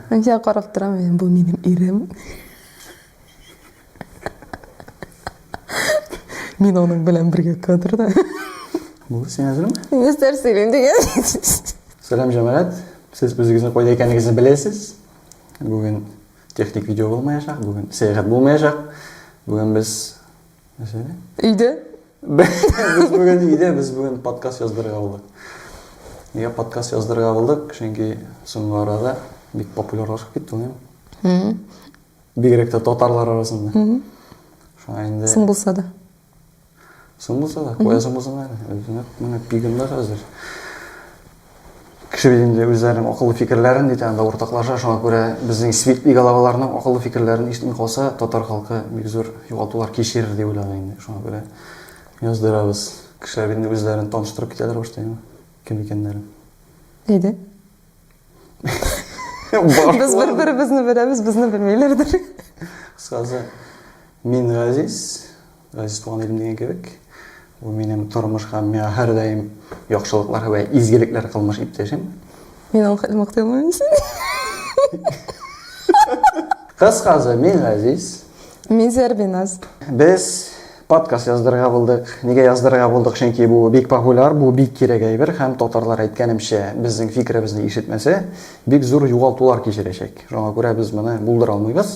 Анҗа карап торам мин, бу минем ирем. Мин аның белән бергә кадрда. Бу син әзерме? Нәрсә сөйлим дигән. Сәлам җәмәгать. Сез үзегезне кайда икәнегезне беләсез. Бүген техник видео булмаячак, бүген сәяхәт булмаячак. Бүген без Нәрсәне? Өйдә. Без бүген өйдә, без бүген подкаст яздырырга булдык. Нигә подкаст яздырырга булдык? Чөнки соңгы арада бик популярлашып китте ул инде. Бигрәк тә татарлар арасында. Шуңа инде Соң булса да. Соң булса да, куясың булсаң әле. Менә пигында хәзер. Кеше бит инде үзләренең акыллы фикерләрен ди тагын да уртаклаша, шуңа күрә безнең светлый головаларның акыллы фикерләрен ишетми калса, татар халкы бик зур югалтулар кичерер дип уйлады инде, шуңа күрә яздырабыз. Кешеләр бит инде үзләрен таныштырып китәләр башта яңа, кем икәннәрен. Әйдә. Без бер-беребезне беләбез, безне белмиләрдер. Кыскасы, мин Газиз. Газиз туган илем дигән кебек, ул минем тормыш һәм миңа һәрдаим яхшылыклар һәм изгелекләр кылмыш иптәшем. Мин аңа хәзер мактый алмыйм сине. Кыскасы, мин Газиз. Мин Зәрбиназ. Без подкаст яздырырга булдык. Нигә яздырырга булдык? Чөнки бу бик популяр, бу бик кирәк әйбер һәм татарлар әйткәнемчә, безнең фикеребезне ишетмәсә, бик зур югалтулар кичерәчәк. Шуңа күрә без моны булдыра алмыйбыз.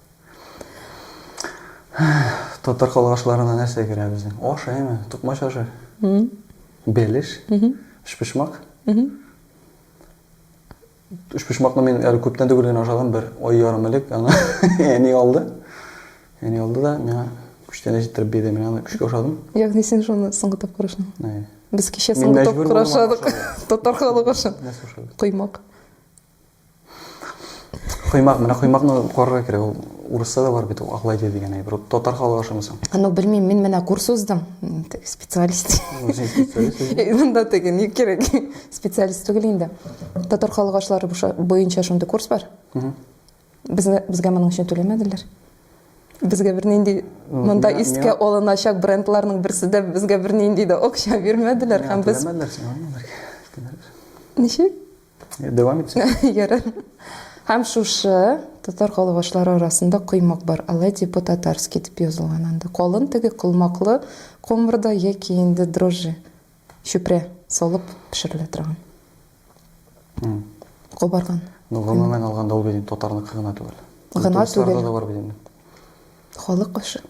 Татар халык ашларына нәрсә керә безнең? Аш, әйме? Тукмач ашы. Бәлеш. Өчпочмак. Өчпочмакны мин әле күптән түгел генә ашадым, бер ай ярым элек аны әни алды. Әни алды да миңа күчтәнә җиттереп бирде. Мин аны күчкә ашадым. Ягъни син шуны соңгы тапкыр ашадың? Әйе. Без кичә соңгы тапкыр ашадык. Татар халык ашы. Нәрсә ашадык? Коймак. Коймак, менә коймакны карарга кирәк. Ул урыста да бар бит, ул аклайды дигән әйбер. Ул татар халыгы ашамый соң. Ну, белмим, мин менә курс уздым. Теге специалист. Үзең специалист үзең. Э, Монда теге ни кирәк? Специалист түгел инде. Татар халык ашлары буша- буенча шундый курс бар. Безне безгә моның өчен түләмәделәр. Безгә бернинди монда миңа- искә миңа- алыначак брендларның берсе дә безгә бернинди дә акча бирмәделәр һәм без Түләмәделәр сиңа, ниләр? Ничек? Дәвам итсәк. Ярар. Һәм шушы татар калгашлары арасында коймак бар, алай дип по-татарски дип язылган анда. Калын теге колмаклы комырда яки инде дрожжи, чүпрә салып пешерелә торган. Кабарган. Ну, гомумән алганда ул бит татарныкы гына түгел. Гына түгел. Татарда да бар бит инде. Халык ашы.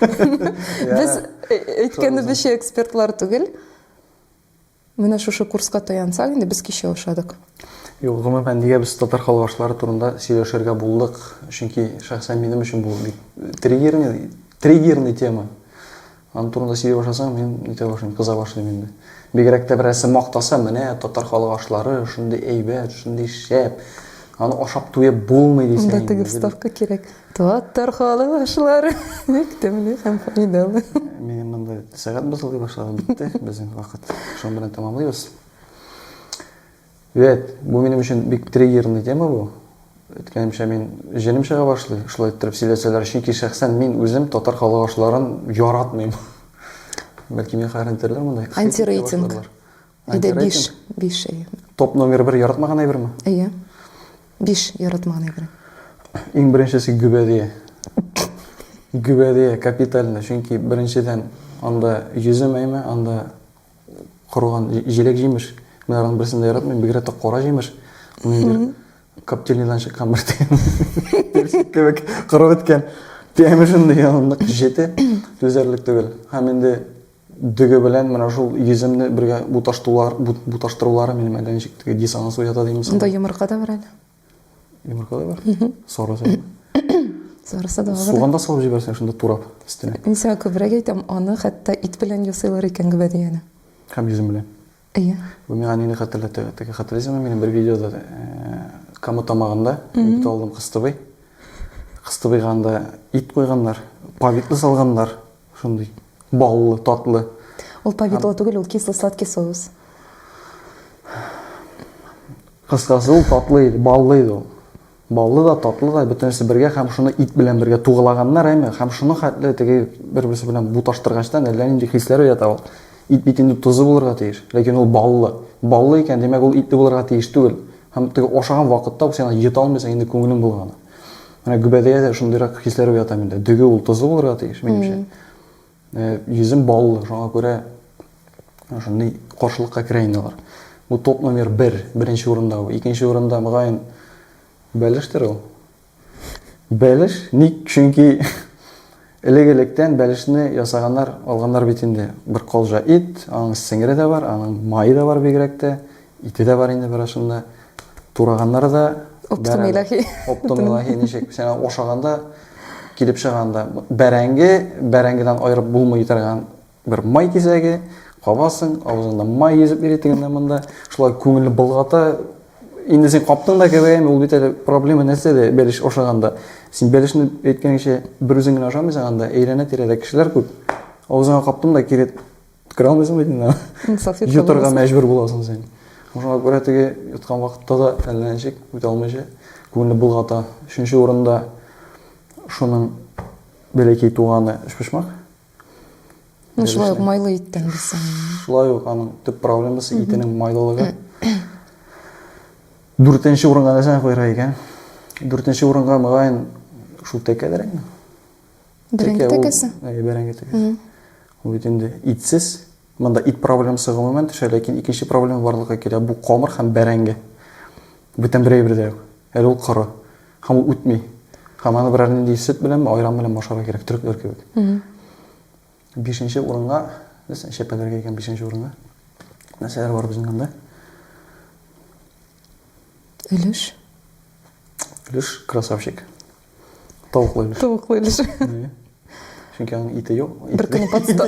Без әйткәнебезчә экспертлар түгел. Менә шушы курска таянсак инде без кичә ошадык. Юк, гомумән, нигә без татар халвашлары турында сөйләшергә булдык? Чөнки шәхсән минем өчен бу бик триггерный, триггерный тема. Аның турында сөйли башласаң, мин үтә башлыйм, кыза башлыйм инде. Бигрәк тә берәрсе мактаса, менә татар халык ашлары шундый әйбәт, шундый шәп. Аны ашап туеп булмый дисәң. Анда теге вставка кирәк. Татар халы башлары. Бик тәмле һәм файдалы. Минем монда сәгать бозылый башлады, битте безнең вакыт. Шуның белән тәмамлыйбыз. Вәт, бу минем өчен бик триггерный тема бу. Әйткәнемчә, мин җенем чыга башлый, шулай иттереп сөйләсәләр, чөнки шәхсән мин үзем татар халык ашларын яратмыйм. Бәлки миңа хәрәм итәрләр монда. Антирейтинг. Әйдә, биш. Биш, әйе. Топ номер бер яратмаган әйберме? Әйе. Биш яратмаган әйбер. Иң беренчесе гөбәдия. Гөбәдия капитальный, чөнки беренчедән анда йөзем әйме, анда корган җиләк җимеш. Мин аларның берсен дә яратмыйм, бигрәк тә кара җимеш. Ниндидер коптильныйдан чыккан бер тәм. Кебек корып беткән. Тәме шундый нык җете түзәрлек түгел. Һәм инде Дөге белән менә шул йөземне бергә буташтулар, бут, буташтырулары минем әлләничек теге диссонанс уята димме соң? Монда йомырка да бар әле. Йомырка да бар? Сары сәләм. Сарысы да алды. Суганда салып җибәрсәң шунда турап өстенә. Мин сиңа күбрәк әйтәм, аны хәтта ит белән ясыйлар икән гөбәдияне. Һәм йөзем белән. Әйе. Бу миңа нине хәтерләтә? Теге хәтерлисеңме, минем бер видеода Кама тамагында бит алдым Кыстыбый. Кыстыбыйга анда ит куйганнар, повидло салганнар, шундый баллы, татлы. Ул повидло түгел, ул кисло-сладкий соус. Кыскасы, ул татлы иде, баллы иде ул. Баллы да, татлы да, бөтенесе бергә һәм шуны ит белән бергә тугылаганнар, әйме, һәм шуның хәтле теге бер-берсе белән буташтыргачтан әллә нинди хисләр уята ул. Ит бит инде тозлы булырга тиеш, ләкин ул баллы. Баллы икән, димәк, ул итле булырга тиеш түгел. Һәм теге ашаган вакытта ук син аны йота алмыйсың, инде күңелең болгана. Менә Гөбәдәя дә шундыйрак хисләр уята миндә. Дөге ул тозлы булырга тиеш, минемчә. Йөзем баллы, шуңа күрә шундый каршылыкка керә инде алар. Бу топ номер бер, беренче урында бу. Икенче урында, мөгаен, бәлештер ул. Бәлеш? Ник? Чөнки элек-электән бәлешне ясаганнар, алганнар бит инде. Бер калҗа ит, аның сеңере дә бар, аның мае да бар бигрәк тә. Ике дә бар инде бераз шунда. Тураганнар да Оптым илаһи. Оптым илаһи ничек? Сәна ошаганда килеп чыганда бәрәңге, бәрәңгедән аерып булмый торган бер май кисәге, кабасың, авызыңда май йөзеп йөри тегендә монда. Шулай күңелне болгата. Инде син каптың да кебегәме, ул бит әле проблема нәрсәдә бәлеш ашаганда. Син бәлешне әйткәнеңчә бер үзең генә ашамыйсың анда, әйләнә-тирәдә кешеләр күп. Авызыңа каптың да килеп Үткерә алмыйсың бит инде. Йотарга мәҗбүр буласың син. Шуңа күрә теге йоткан вакытта да әллә ничек үтә алмыйча күңелне болгата. Өченче урында шуның бәләкәй туганы өчпочмак. Ну, шулай ук майлы иттән дисең. Шулай ук аның төп проблемасы итенең майлылыгы. Дүртенче урынга нәрсәне куярга икән? Дүртенче урынга, мөгаен, шул тәкәдерәкме? Бәрәңге тәкәсе? Әйе, бәрәңге тәкәсе. Ул бит инде итсез. Монда ит проблемасы гомумән төшә, ләкин икенче проблема барлыкка килә. Бу камыр һәм бәрәңге. Бүтән бер әйбер дә юк. Әле ул коры. Һәм ул үтми. Һәм аны берәр нинди сөт белән, айран белән ашарга кирәк, төрекләр кебек. Бишенче урынга, нәрсә, чәпәләргә икән бишенче урынга. Нәрсәләр бар безнең анда? Өлеш. Өлеш, красавчик. Тавыклы өлеш. Тавыклы өлеш. Чөнки аның ите юк. Бер көнне подстав.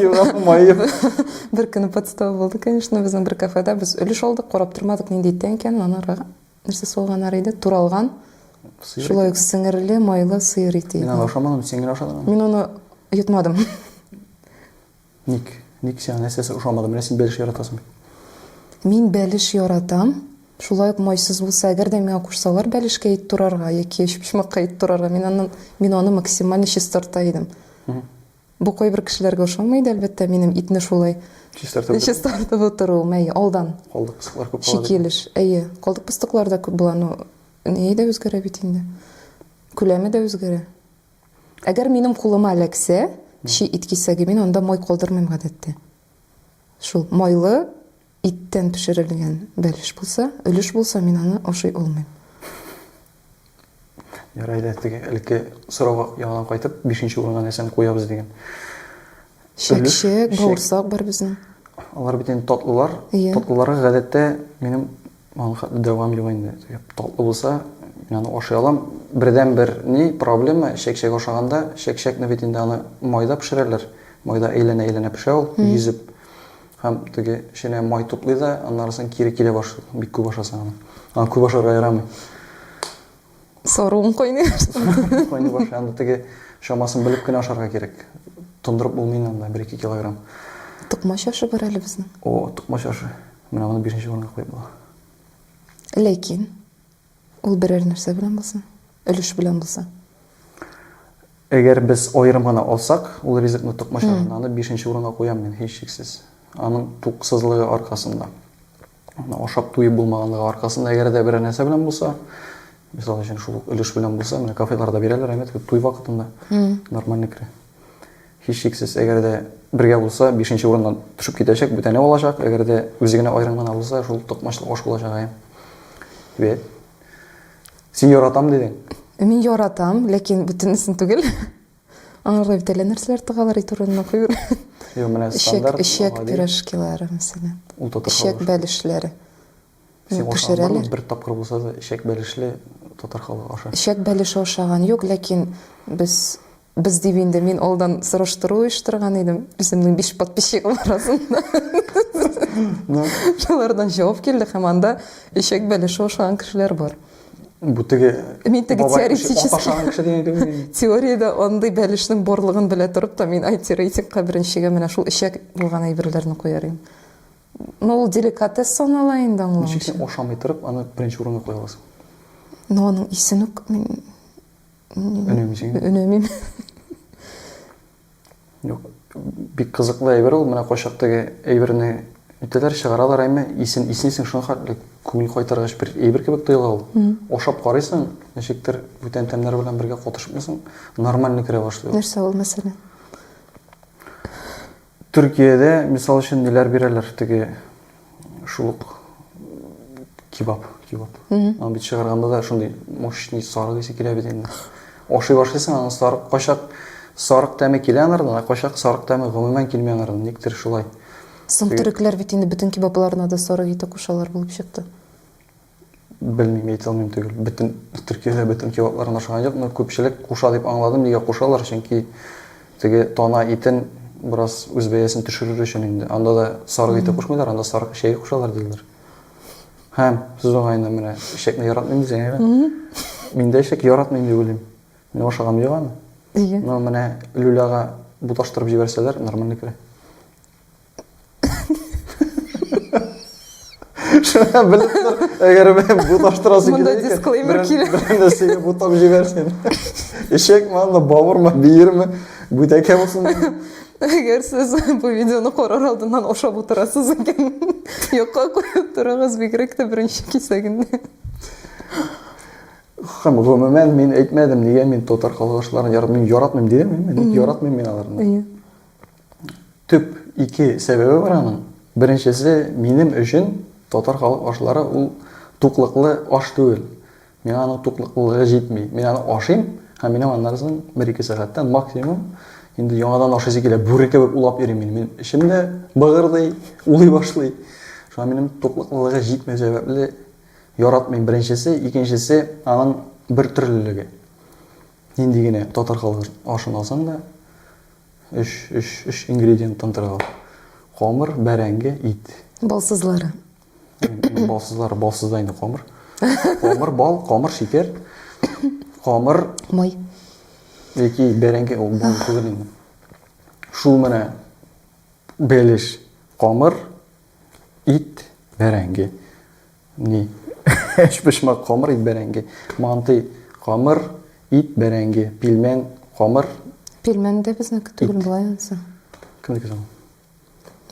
Бер көнне подстав булды, конечно, безнең бер кафеда без өлеш алдык, карап тормадык, нинди иттән икәнен, анарга нәрсә салганнар иде, туралган. Шулай ук сеңерле, майлы сыер ите. Мин аны ашамадым, син генә ашадың. Мин аны йотмадым. Ник? Ник сиңа нәрсәсе ошамады? Менә син бәлеш яратасың бит. Мин бәлеш яратам. Шулай ук майсыз булса, әгәр дә миңа кушсалар бәлешкә ит турарга яки өчпочмакка ит турарга, мин аннан мин аны максимально чистарта идем. Бу кайбер кешеләргә ошамый иде, әлбәттә, минем итне шулай чистартып чистартып утыруым, әйе, алдан. Калдык пыстыклар күп була. Чикелеш, әйе, калдык пыстыклар да күп була, но ни дә үзгәрә бит инде. Күләме дә үзгәрә. Әгәр минем кулыма эләксә, чи ит кисәге, мин анда май калдырмыйм гадәттә. Шул майлы иттән пешерелгән бәлеш булса, өлеш булса, мин аны ашый алмыйм. Ярый әле теге элекке сорауга яңадан кайтып, бишенче урынга нәрсәне куябыз дигән. Чәкчәк, бавырсак бар безнең. Алар бит инде татлылар. Иә. Татлыларга гадәттә минем аңа дәвам юк инде. Татлы булса, мин аны ашый алам. Бердәнбер ни проблема чәкчәк ашаганда, чәкчәкне бит инде аны майда пешерәләр. Майда әйләнә-әйләнә пешә ул, йөзеп. Һәм теге эченә май туплый да, аннары соң кире килә башлый, бик күп ашасаң аны. Аны күп ашарга ярамый. Соруын кайный башлады. Кайный башланды. Теге чамасын белеп кенә ашарга кирәк. Тондырып булмый инде бер ике килограмм. Тукмач ашы бар әле безнең. О, тукмач ашы. Менә моны бишенче урынга куеп була. Ләкин ул берәр нәрсә белән булсын, өлеш белән булса. Әгәр без аерым гына алсак, ул ризыкны тукмач ашына, аны бишенче урынга куям мин, һичшиксез. Аның туксызлыгы аркасында. Менә ашап туеп булмаганлыгы аркасында, әгәр дә берәр нәрсә белән булса, мисал өчен шул ук өлеш белән булса, менә кафеларда бирәләр, әмәт, туй вакытында нормально керә. Һичшиксез, әгәр дә бергә булса, бишенче урыннан төшеп китәчәк, бүтәне алачак, әгәр дә үзе генә аерым гына булса, шул токмачлык аш булачак, әйе. Бәт. Син яратам дидең. Мин яратам, ләкин бүтәнесен түгел. Аңа гына бит әллә нәрсәләр тыгалар ит урынына куюр. Юк, менә стандарт. Эчәк, эчәк пирожкилары, мәсәлән. Ул татар халык. Эчәк бәлешләре. Син ашаган бармы? Бер тапкыр булса да эчәк бәлешле татар халык аша. Эчәк бәлеше ашаган юк, ләкин без без дип инде мин алдан сораштыру оештырган идем. Үземнең биш подписчигым арасында. Шулардан җавап килде һәм анда эчәк бәлеше ашаган кешеләр бар. Бу теге Мин теге бабай кеше, теоретически- ата шаган кеше дигән кебек инде. Теориядә андый бәлешнең барлыгын белә торып та, мин IT-рейтингка беренчегә менә шул эчәк булган әйберләрне куяр идем. Ну, ул деликатес санала инде аңлау Ничек өчен. син ашамый торып аны беренче урынга куя аласың? Ну, аның исен үк мин Өнәмисең. өнәмим. Юк, бик кызыклы әйбер ул, менә кайчак теге әйберне үтәләр, чыгаралар әйме, исен иснисең, шуңа хәтле күңел кайтаргач бер әйбер кебек тоела ул. Ашап карыйсың, ничектер бүтән тәмнәр белән бергә катышмыйсың, нормально керә башлый ул. Нәрсә ул, мәсәлән? Төркиядә, мисал өчен, ниләр бирәләр, теге Шул ук кебаб, кебаб. Аны бит чыгарганда да шундый мощный сарык исе килә бит инде. Ашый башлыйсың, аны сарык кайчак сарык тәме килә анардан, ә кайчак сарык тәме гомумән килми анардан, никтер шулай. Соң төрекләр бит инде бөтен кебабларына да сарык ите кушалар булып чыкты. Белмим, әйтә алмыйм төгәл. Бөтен Төркиядә бөтен кебаплардан ашаган юк, но күпчелек куша дип аңладым. Нигә кушалар? Чөнки теге тана итен бераз үз бәясен төшерер өчен инде. Анда да сарык ите кушмыйлар, анда сарык эчәге кушалар диләр. Һәм сүз уңаеннан менә эчәкне яратмыйм дисең, әйеме? Мин дә эчәк яратмыйм дип уйлыйм. Мин ашаган юк аны. Но менә люляга буташтырып җибәрсәләр, нормально керә. Шуңа белеп тор, әгәр мен буташтырасы Монда килә икән, дисклеймер берәр- килә. берәр нәрсәгә бутап җибәрсен. Эчәкме анда, бавырмы, биерме, бүтәкә булсын. Әгәр сез бу видеоны карар алдыннан ашап утырасыз икән, якка куеп торыгыз, бигрәк тә беренче кисәгендә. Һәм гомумән мин әйтмәдем, нигә мин татар калгышларын яратмыйм. Яратмыйм дидемме? Мин яратмыйм мин аларны. Әйе. Төп ике сәбәбе бар аның. Беренчесе, минем өчен татар халык ашлары ул туклыклы аш түгел. Миңа аның туклыклылыгы җитми. Мин аны ашыйм һәм минем аннан соң бер-ике сәгатьтән максимум инде яңадан ашыйсы килә. Бүре кебек улап йөрим мин. Мин эчем дә быгырдый, улый башлый. Шуңа минем туклыклылыгы җитмәү сәбәпле яратмыйм, беренчесе. Икенчесе, аның бертөрлелеге. Нинди генә татар халык ашын алсаң да, Өч, өч, өч ингредиенттан тора ул. Камыр, бәрәңге, ит. Бал сызлары. Балсызлары, балсыз да инде камыр. Камыр, бал, камыр, шикәр. Камыр, Май. яки бәрәңге, ул бал түгел инде. Шул менә белеш, камыр, ит, бәрәңге. Ни? Өчпочмак камыр ит бәрәңге, манты камыр ит бәрәңге, пилмән камыр. Пилмән дә безнеке түгел болай ансы. Кемнеке соң?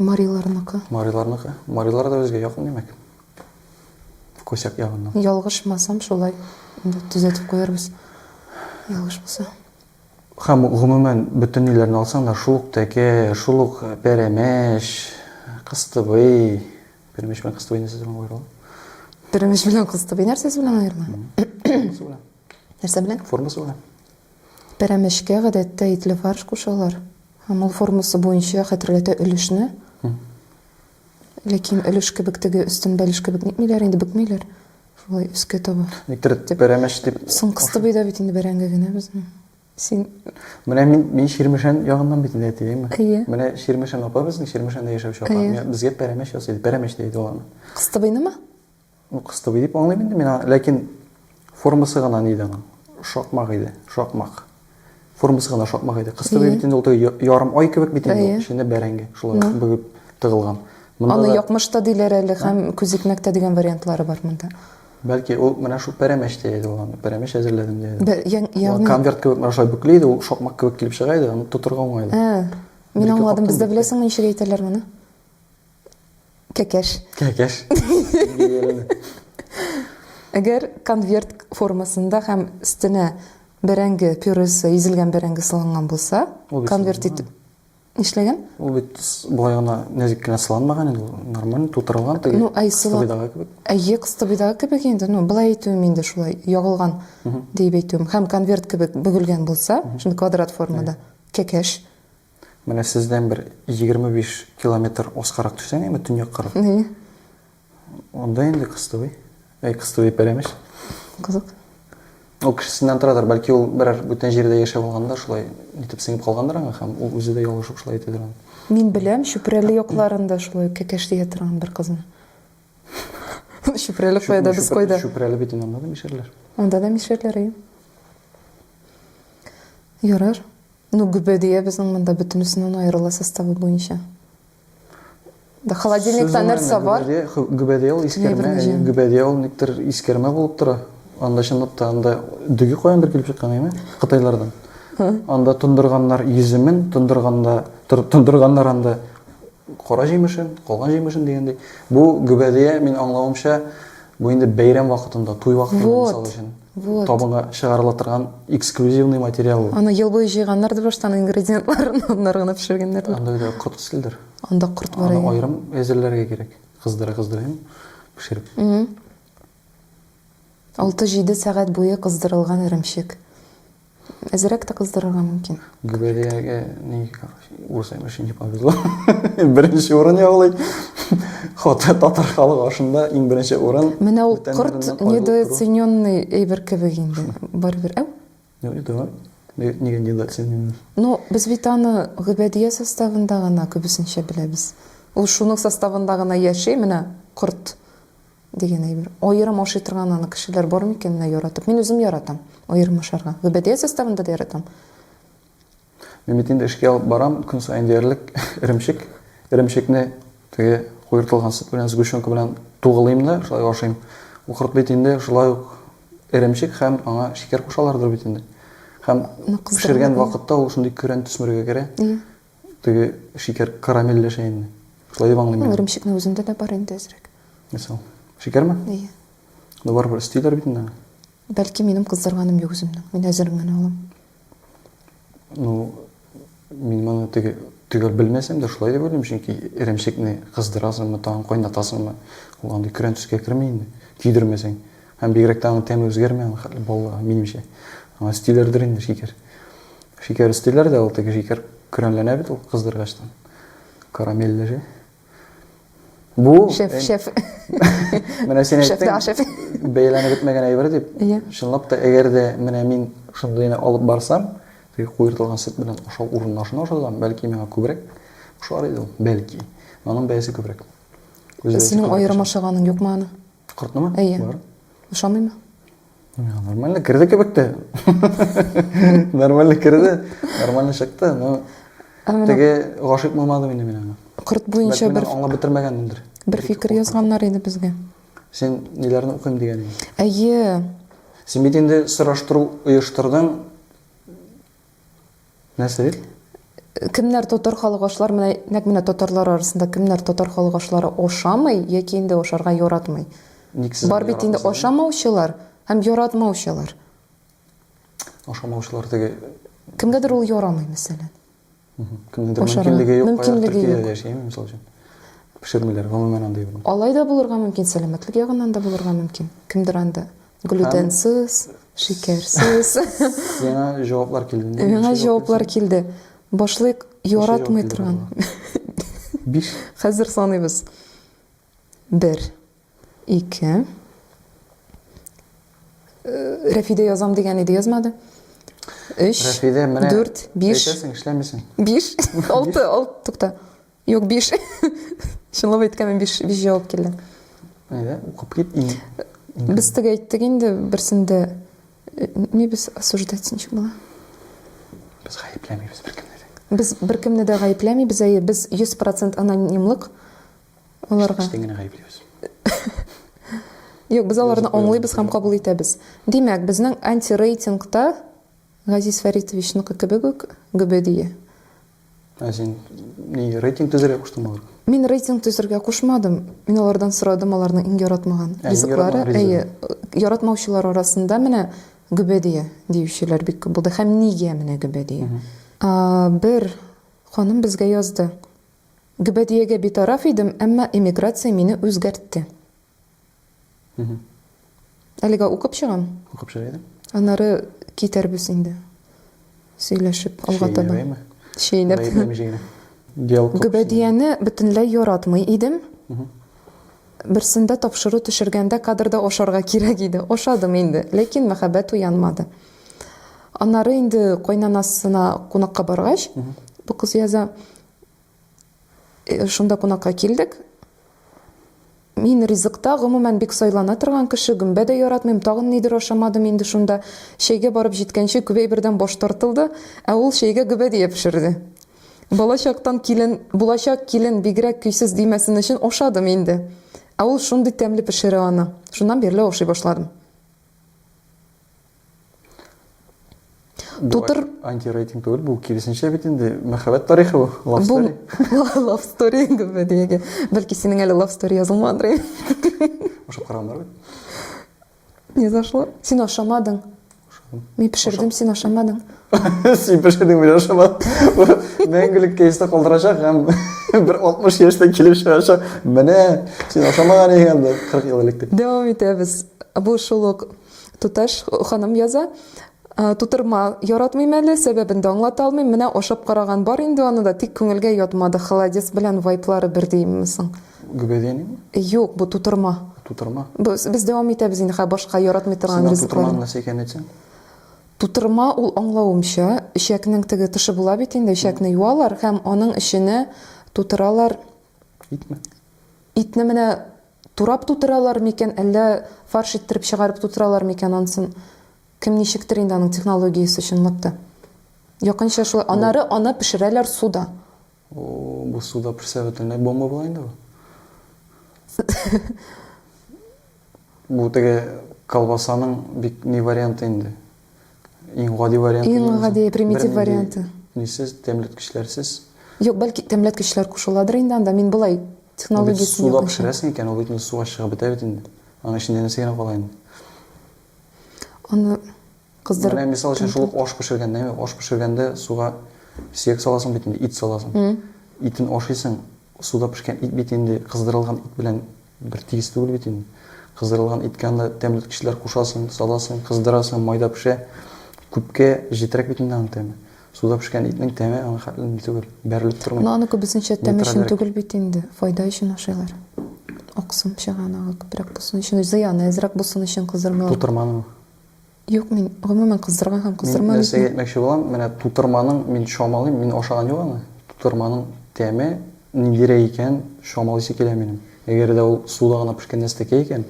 Мариларныкы. Мариларныкы. Марилар да безгә якын димәк. Косяк ягыннан. Ялгышмасам шулай. Инде төзәтеп куярбыз. Ялгыш булса. Һәм, гомумән, бөтен ниләрне алсаң да, шул ук тәкә, шул ук пәрәмәч, кыстыбый, пәрәмәч белән кыстыбый нәрсәсе белән аерыла? Пәрәмәч белән кыстыбый нәрсәсе белән аерыла? Формасы белән. Нәрсә белән? Формасы белән. Пәрәмәчкә гадәттә итле фарш кушалар. Һәм ул формасы буенча хәтерләтә өлешне. Ләкин өлеш кебек теге өстен бәлеш кебек нитмиләр инде, бөкмиләр. Шулай өскә таба. Никтер бәрәмәч дип. Соң кысты бит бит инде бәрәңге генә безне. Син Менә мин мин Ширмешән ягыннан бит инде әтиемме? Әйе. Менә Ширмешән апа безнең Ширмешәндә яшәүче апа. Безгә пәрәмәч ясый иде. Пәрәмәч дә иде ул аны. Кыстыбыйнымы? Ну, кыз туби дип аңлыйм инде мин аны, ләкин формасы гына нидә аның? Шакмак иде, шакмак. Формасы гына шакмак иде. Кыз туби бит инде ул теге ярым ай кебек бит инде, эчендә бәрәңге шулай ук бөгеп тыгылган. Аны якмыш та диләр әле һәм күзикмәк тә дигән вариантлары бар монда. Бәлки ул менә шул пәрәмәч тә иде ул аны, пәрәмәч әзерләдем дә иде. Ягъни конверт кебек менә шулай бөкле иде, ул шакмак кебек килеп чыга иде, аны тотырга уңай иде. Мин аңладым, бездә беләсеңме ничек әйтәләр моны? Кәкәш. Кәкәш. Әгәр конверт формасында һәм өстенә бәрәңге пюресе, изелгән бәрәңге салынган булса, конверт итеп нишләгән? Ул бит болай гына нәзек кенә сыланмаган инде, нормально тутырылган теге. Ну, ай сылыдагы кебек. Әйе, кыстыбыйдагы кебек инде. Ну, былай әйтүем инде шулай, ягылган дип әйтүем. Һәм конверт кебек бөгелгән булса, шундый квадрат формада, кәкәш. Менә сездән бер егерме биш километр аскарак төшсәң, әйме, төньяк кыры. Әйе. Анда инде Кыстыбый. Әй, Кыстыбый Пәрәмеш. Кызык. Ул кешесеннән торадыр, бәлки ул берәр бүтән җирдә яшәп алганда шулай нитеп сеңеп калгандыр аңа һәм ул үзе дә ялгышып шулай әйтәдер аны. Мин беләм, Чүпрәле якларында шулай кәкәш дия торган бер кызны. Чүпрәле кайда, без кайда? Чүпрәле бит инде анда да мишәрләр. Анда да мишәрләр, әйе. Ярар. Ну, гөбәдия безнең монда бөтенесеннән аерыла составы буенча. Да холодильникта нәрсә бар? Гөбәдия ул искәрмә, гөбәдия ул никтер искәрмә булып тора. Анда чынлап та анда дөге каяндыр килеп чыккан име? Кытайлардан. Анда тондырганнар йөземен, тондырганда тондырганнар анда кара җимешен, калган җимешен дигәндәй. Бу гөбәдия, мин аңлавымча, Бу инде бәйрәм вакытында, туй вакытында, вот, мисал өчен, вот. табынга чыгарыла торган эксклюзивный материал ул. Аны ел буе җыйганнар ди баштан ингредиентларын, аннары гына пешергәннәр. Анда бит корт киселдер. Анда корт бар. Аны аерым әзерләргә кирәк. Кыздыра кыздыра пешереп. Алты-җиде сәгать буе кыздырылган эремчек. Әзерәк тә кыздырырга мөмкин. Гүбәдиягә ни, урыс әйбәшен не повезло. Беренче урын яулый. Хаты татар халык ашында иң беренче урын. Менә ул кырт недооцененный әйбер кебек инде. Барыбер, әү? Юк, да. Нигә недооцененный? Ну, без бит аны Гүбәдия составында гына күбесенчә беләбез. Ул шуның составында гына яши, менә корт. Дигән әйбер. Аерым ашый торган аны кешеләр бар микән менә яратып? Мин үзем яратам аерым ашарга. Гөбәдия составында да яратам. Мин бит инде эшкә алып барам, көн саен диярлек эремчек. Эремчекне теге куертылган сөт белән, сгущенка белән тугылыйм да, шулай ашыйм. Ул корт бит инде шулай ук эремчек һәм аңа шикәр кушалардыр бит инде. Һәм пешергән вакытта ул шундый көрән төсмергә керә. Теге шикәр карамельләшә инде. Шулай дип аңлыйм мин. Ул эремчекнең үзендә дә бар инде әзрәк. Нәрсә ул? Шикәрме? Әйе. Ну барыбер өстиләр бит инде аны. Бәлки минем кыздырганым юк үземнең. Мин әзерен генә алам. Ну, мин моны теге төгәл белмәсәм дә шулай дип уйлыйм, чөнки эремчекне кыздырасыңмы, тагын кайнатасыңмы, ул андый көрән төскә керми инде, көйдермәсәң. Һәм бигрәк тә аның тәме үзгәрми, аның хәтле баллыга, минемчә. Аңа өстиләрдер инде шикәр. Шикәр өстиләр дә, ул теге шикәр көрәнләнә бит ул кыздыргачтан. Карамельләшә. Бу шеф, э, шеф. Менә син әйттең. Бәяләнеп бетмәгән әйбер дип. Иә. Чынлап та, әгәр дә менә мин шундыйны алып барсам, теге куертылган сөт белән ашау урынына шуны ашасам, бәлки миңа күбрәк ошар иде ул, бәлки. Аның бәясе күбрәк. Синең аерым ашаганың юкмы аны? Коркнымы? Әйе. Бар. Ошамыймы? Миңа нормально керде кебек тә. Нормально керде, нормально чыкты, но теге гашыйк булмадым инде мин аңа. Корт буенча бер аңлап бетермәгәнмендер. Бер фикер язганнар иде безгә. Сен ниләрне укыйм дигән идең? Әйе. Син бит инде сораштыру оештырдың. Нәрсә бит? Кемнәр татар халык ашлар менә нәкъ менә татарлар арасында кемнәр татар халык ашлары ашамый яки инде ашарга яратмый? Ник сез Бар бит инде ашамаучылар һәм яратмаучылар. Ашамаучылар теге Кемгәдер ул ярамый, мәсәлән. Кемнедер мөмкинлеге юк, мөмкинлеге юк. Яшәйме, мисал өчен? Пешермиләр, гомумән андый. Алай да булырга мөмкин, сәламәтлек ягыннан да булырга мөмкин. Кемдер анда Глютенсыз, шикәрсез. Миңа җаваплар килде. Миңа җаваплар килде. Башлыйк яратмый торган. Биш. Хәзер саныйбыз. Бер, ике. Рәфидә язам дигән иде, язмады. Өч, дүрт, биш. Әйтәсең, эшләмисең. Биш, алты, алты, тукта. Юк, биш. Чынлап әйткәндә биш, биш җавап килде. Әйдә, укып кит. Без теге әйттек инде берсендә. Э, не без осуждать ничек була? Без гаепләмибез беркемне дә. Без беркемне дә гаепләмибез, әйе, без 100% анонимлык аларга. Без генә гаеплибез. Юк, без аларны аңлыйбыз һәм кабул итәбез. Димәк, безнең антирейтингта Газиз Фәритовичныкы кебек үк гөбедие. Ә син ни рейтинг төзергә куштыңмы аларга? Мин рейтинг төзергә кушмадым. Мин алардан сорадым аларның иң яратмаган ә, ризыклары. Әйе, яратмаучылар арасында менә гөбәдия диючеләр бик күп булды. Һәм нигә менә гөбәдия? Бер ханым безгә язды. Гөбәдиягә битараф идем, әмма эмиграция мине үзгәртте. Әлегә укып чыгам. Укып чыга идем. Аннары китәрбез инде. Сөйләшеп алга таба. Чәйнәп. Чәйнәп. Гөбәдияне бөтенләй яратмый идем. Берсендә тапшыру төшергәндә кадрда ашарга кирәк иде. Ашадым инде, ләкин мәхәббәт уянмады. Аннары инде кайнанасына кунакка баргач, бу кыз яза, Э, шунда кунакка килдек. Мин ризыкта гомумән бик сайлана торган кеше, гөмбә дә яратмыйм, тагын нидер ашамадым инде шунда. Чәйгә барып җиткәнче күбәй бердән баш тартылды, ә ул чәйгә гөбә дия пешерде. Балачактан килен, булачак килен бигрәк көйсез димәсен өчен ашадым инде. Ә ул шундый тәмле пешерә аны. Шуннан бирле ашый башладым. Тутыр... Антирейтинг түгел, бу киресенчә бит инде мәхәббәт тарихы бу, love story. Бу love story инде бу диеге. Бәлки синең әле love story язылмадыр. Ашап карамар бит. Не зашло. Син ашамадың. Мин пешердем, син ашамадың. Син пешердең, мин ашамадым. Мәңгелек кейста калдырачак һәм бер 60 яшьтә килеп чыгачак. Менә син ашамаган икән 40 ел элек дип. Дәвам итәбез. Бу шул ук Туташ ханым яза, Тутырма яратмыйм әле, сәбәбен дә аңлата алмыйм. Менә ашап караган бар инде аны да, тик күңелгә ятмады. Холодец белән вайплары бер диимме соң? Гөбәдәнеме? Юк, бу тутырма. Тутырма. Без, без дәвам итәбез инде хә башка яратмый торган Сиңа ризыклар. тутырманың нәрсә икәнен әйтсәң? Тутырма ул аңлавымча, эчәкнең теге тышы була бит инде, эчәкне юалар һәм аның эченә тутыралар. Итме? Итне менә Турап тутыралар микән, әллә фарш иттереп чыгарып тутыралар микән, ансын кем ничектер инде аның технологиясе, чынлап та. Якынча шулай. Анары аны пешерәләр суда. О, бу суда пешсә бөтенләй бомба була инде бу. Бу теге колбасаның бик ни варианты инде. Иң гади варианты. Иң гади примитив варианты. Нисез, тәмләткечләрсез. Юк, бәлки тәмләткечләр кушыладыр инде анда. Мин былай технологиясен юк. Суда пешерәсең икән, ул бит инде суга чыгып бетә бит инде. Аның эчендә нәрсә генә кала инде. Аны кыздырып. Менә мисал өчен шул аш пешергәндә, әйме, аш пешергәндә суга сөяк саласың бит инде, ит саласың. Итен ашыйсың, суда пешкән ит бит инде кыздырылган ит белән Бер тигез түгел бит инде. Кыздырылган иткә анда тәмләткечләр кушасың, саласың, кыздырасың, майда пешә. Күпкә җетрәк бит инде аның тәме. Суда пешкән итнең тәме аңа хәтле ни түгел, бәрелеп тормый. Но аны күбесенчә тәм өчен түгел бит инде, файда өчен ашыйлар. Аксым чыга анага күбрәк булсын өчен, зыяны әзрәк булсын өчен кыздырмыйлар. Тутырманымы? Юк, мин гомумән кыздырган һәм кыздырмаган. Мин нәрсәгә әйтмәкче булам, менә тутырманың мин чамалыйм, мин ашаган юк аны. Тутырманың тәме ниндирәк икән, чамалыйсы килә минем. Әгәр дә ул суда гына пешкән нәрсәкәй икән,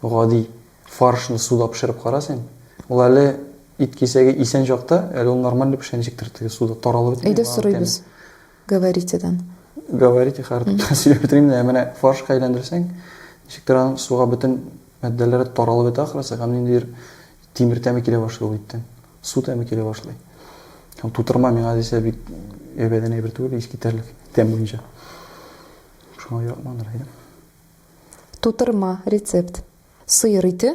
гади фаршны суда пешереп кара син. Ул әле ит кисәге исән чакта, әле ул нормальный пешә, ничектер теге суда таралып бетми. Әйдә сорыйбыз. Говоритедан. Говорите хәртүтә сөйләп бетермим дә, менә фаршка әйләндерсәң, ничектер аның суга бөтен матдәләре таралып бетә ахрысы, һәм ниндидер тимер тәме килә башлый ул иттән. Су тәме килә башлый. Һәм тутырма миңа дисә бик әйбәдән әйбер түгел, искитәрлек тәм буенча. Шуңа яратмадыр идем. Тутырма, рецепт. Сыер ите,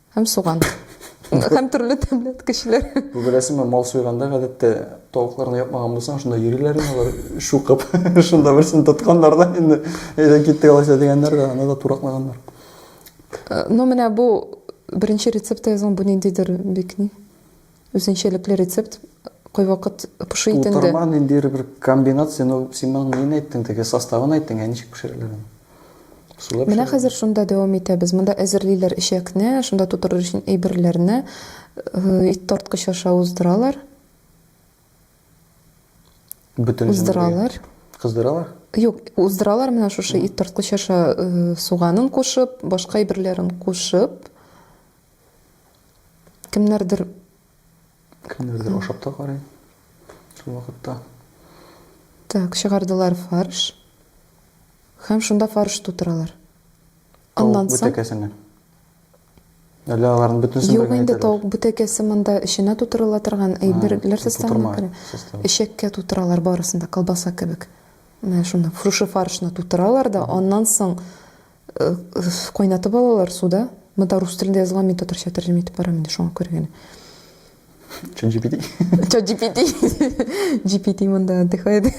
Һәм суган. Һәм төрле тәмле кешеләр. Бу беләсеңме, мал суйганда гадәттә тавыкларны япмаган булсаң, шунда йөриләр инде алар шукып. Шунда берсен тотканнар да инде әйдә китте алайса дигәннәр дә, аны да тураклаганнар. Э, ну менә бу беренче рецепт язган бу ниндидер бик ни? Үзенчәлекле рецепт кайвакыт пошый ит инде. Тутырма ниндидер бер комбинация, но син моның нин әйттең, теге составын әйттең, ә ничек пешерелер аны? Сулап Менә хәзер шунда дәвам итәбез. Монда әзерлиләр эчәкне, шунда тутырыр өчен әйберләрне, э, ит тарткыч аша уздыралар. Бөтен уздыралар. Кыздыралар? Юк, уздыралар менә шушы ит тарткыч аша э, суганын кушып, башка әйберләрен кушып. Кемнәрдер Кемнәрдер ашап та карый. Шул вакытта. Так, чыгардылар фарш. Һәм шунда фарш тутыралар. Аннан соң бүтәкәсенә. Әллә аларның бөтенесен Юк, инде тавык бүтәкәсе монда эченә тутырыла торган әйберләр составына керә. Эчәккә тутыралар барысын да, колбаса кебек. Менә шуны, шушы фаршны тутыралар да, аннан соң Э, кайнатып алалар суда. Монда рус телендә язылган, мин татарча тәрҗемә итеп барам инде, шуңа күрә генә. Чат GPT. Чат GPT. GPT монда отдыхает.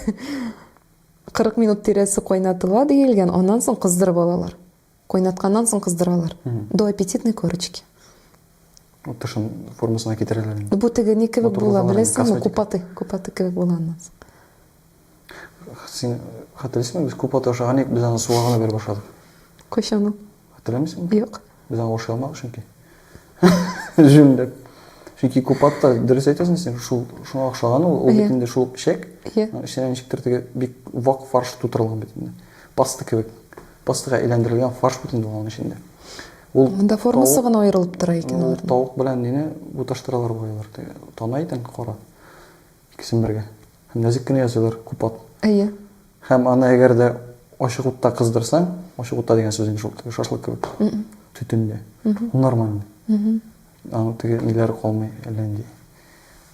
40 минут тирәсе кайнатыла диелгән, аннан соң кыздырып алалар. Кайнатканнан соң кыздыралар. До аппетитной корочки. Вот тышын формасына китерәләр инде. Бу теге ни кебек була, беләсеңме? Купаты, купаты кебек була аннан соң. Син хәтерлисеңме, без күп ата ашаган идек, без аны суга гына биреп ашадык. Кайчан ул? Хәтерләмисеңме? Юк. Без аны ашый алмадык чөнки. Җүнләп. Чөнки күп атта, дөрес әйтәсең син, шул шуңа охшаган ул, ул бит инде шул печәк. Иә. Эченә ничектер теге бик вак фарш тутырылган бит инде. Паста кебек. Пастага әйләндерелгән фарш бит инде аның эчендә. Ул Монда формасы гына аерылып тора икән алар. Тауык белән нене буташтыралар буйлар. Тана икән кара. Икесен бергә. Һәм нәзек кенә ясыйлар, күп ат. Әйе. Һәм аны әгәр дә ачык утта кыздырсаң, ачык утта дигән сүз инде шул теге шашлык кебек. Төтендә. Ул нормально. Аның теге ниләре калмый, әллә нинди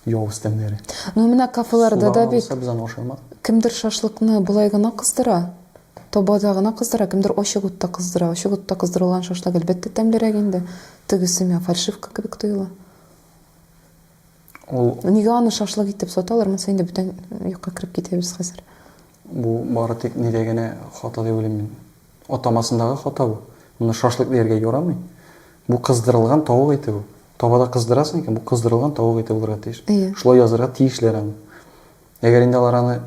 явыз тәмнәре. Ну менә кафеларда да бит. Суда гына булса без аны ашамак. Кемдер шашлыкны болай гына кыздыра, табада гына кыздыра, кемдер ачык утта кыздыра. Ачык утта кыздырылган шашлык әлбәттә тәмлерәк инде. Тегесе миңа фальшивка кебек тоела. Ул... Нигә аны шашлык итеп саталар? Монсы инде бүтән юкка кереп китәбез хәзер. Бу бары тик нидә генә хата дип уйлыйм мин. Атамасындагы хата бу. Моны шашлык дияргә ярамый. Бу кыздырылган тавык ите бу. Табада кыздырасың икән, бу кыздырылган тавык ите булырга тиеш. Шулай язырга тиешләр аны. Әгәр инде алар аны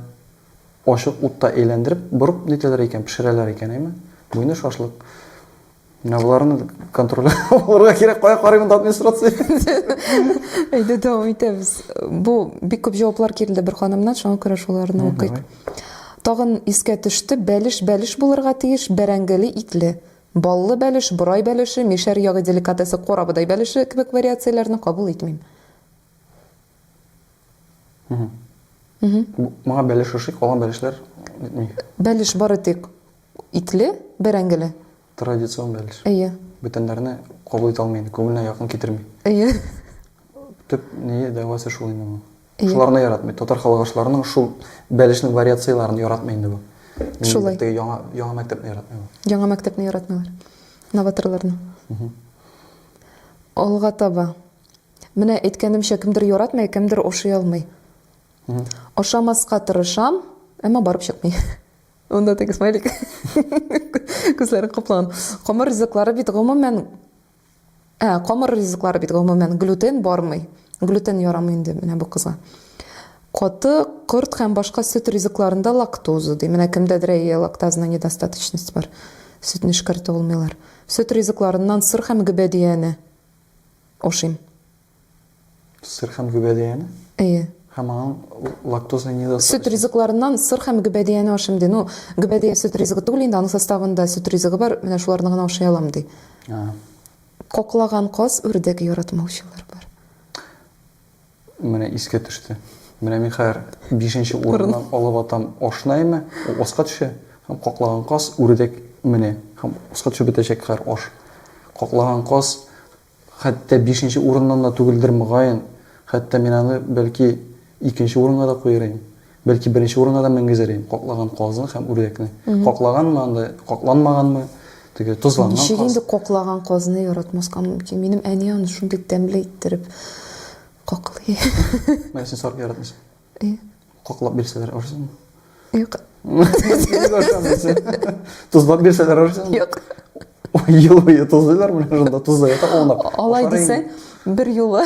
ачык утта әйләндереп, борып нитәләр икән, пешерәләр икән, әйме? Бу инде шашлык. Менә боларны контроль алырга кирәк, кая карыйм да администрация. Әйдә дәвам итәбез. Бу бик күп җаваплар килде бер ханымнан, шуңа күрә шуларны укыйк. Тагын искә төште, бәлеш бәлеш булырга тиеш, бәрәңгеле, итле. Баллы бәлеш, борай бәлеше, мишәр ягы деликатесы корабыдай бәлеше кебек вариацияләрне кабул итмим. Моңа бәлеш ошый, калган бәлешләр итми. Бәлеш бары тик Итле, бәрәңгеле. Традицион бәлеш. Әйе. Бүтәннәрне кабул итә алмый инде, күңеленә якын китерми. Әйе. Төп ние, дәвасы шул инде моның. Әйе. Шуларны яратмый. Татар халык ашларының шул бәлешнең вариацияләрен яратмый инде бу. Шулай. Теге яңа, яңа мәктәпне яратмый бу. Яңа мәктәпне яратмыйлар. Новаторларны. Алга таба. Менә әйткәнемчә, кемдер яратмый, кемдер ашый алмый. Ашамаска тырышам, әмма барып чыкмый. Унда теге смайлик. Күзләре кыплан. Камыр ризыклары бит гомумән Ә, камыр ризыклары бит гомумән глютен бармый. Глютен ярамый инде менә бу кызга. Каты, корт һәм башка сөт ризыкларында лактоза ди. Менә кемдәдер әйе лактазаның недостаточность бар. Сөтне эшкәртә алмыйлар. Сөт ризыкларыннан сыр һәм гөбәдияне ашыйм. Сыр һәм гөбәдияне? Әйе. Һәм аның лактоза не доставить. Сөт ризыкларыннан сыр һәм гөбәдияне ашыйм ди. Ну, гөбәдия сөт ризыгы түгел инде, аның составында сөт ризыгы бар, менә шуларны гына ашый алам ди. А. Коклаган каз, үрдәк яратмаучылар бар. Менә искә төште. Менә мин хәзер бишенче урыннан алып атам ашнайме, ул аска төшә, һәм коклаган каз, үрдәк менә, һәм аска төшеп бетәчәк хәзер аш. Коклаган каз, Хәтта бишенче урыннан да түгелдер, мөгаен. Хәтта мин аны, бәлки, икенче урынга да куер идем. Бәлки, беренче урынга да менгезер идем каклаган казны һәм үрдәкне. Каклаганмы анда, какланмаганмы, теге тозланган каз. Ничек инде каклаган казны яратмаска мөмкин? Минем әни аны шундый тәмле иттереп каклый. Менә син сарык яратмыйсың. Ие. Каклап бирсәләр орсызмы? Юк. Ник орсамын син? Тозлап бирсәләр орсызмы? Юк. Ел буе тозлыйлар менә шунда тозлы ята аунап. Алай дисәң, бер юлы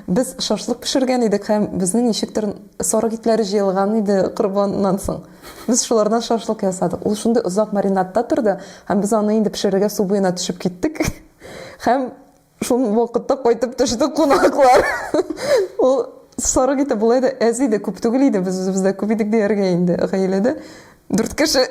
без шашлык пешергән идек һәм безнең ничектер сарык итләре җыелган иде корбаннан соң. Без шулардан шашлык ясадык. Ул шундый озак маринадта торды һәм без аны инде пешерергә су буена төшеп киттек һәм Шул вакытта кайтып төште кунаклар. Ул сарык ите болай да әз иде, күп түгел иде, без үзебез дә күп идек дияргә инде, гаиләдә дүрт кеше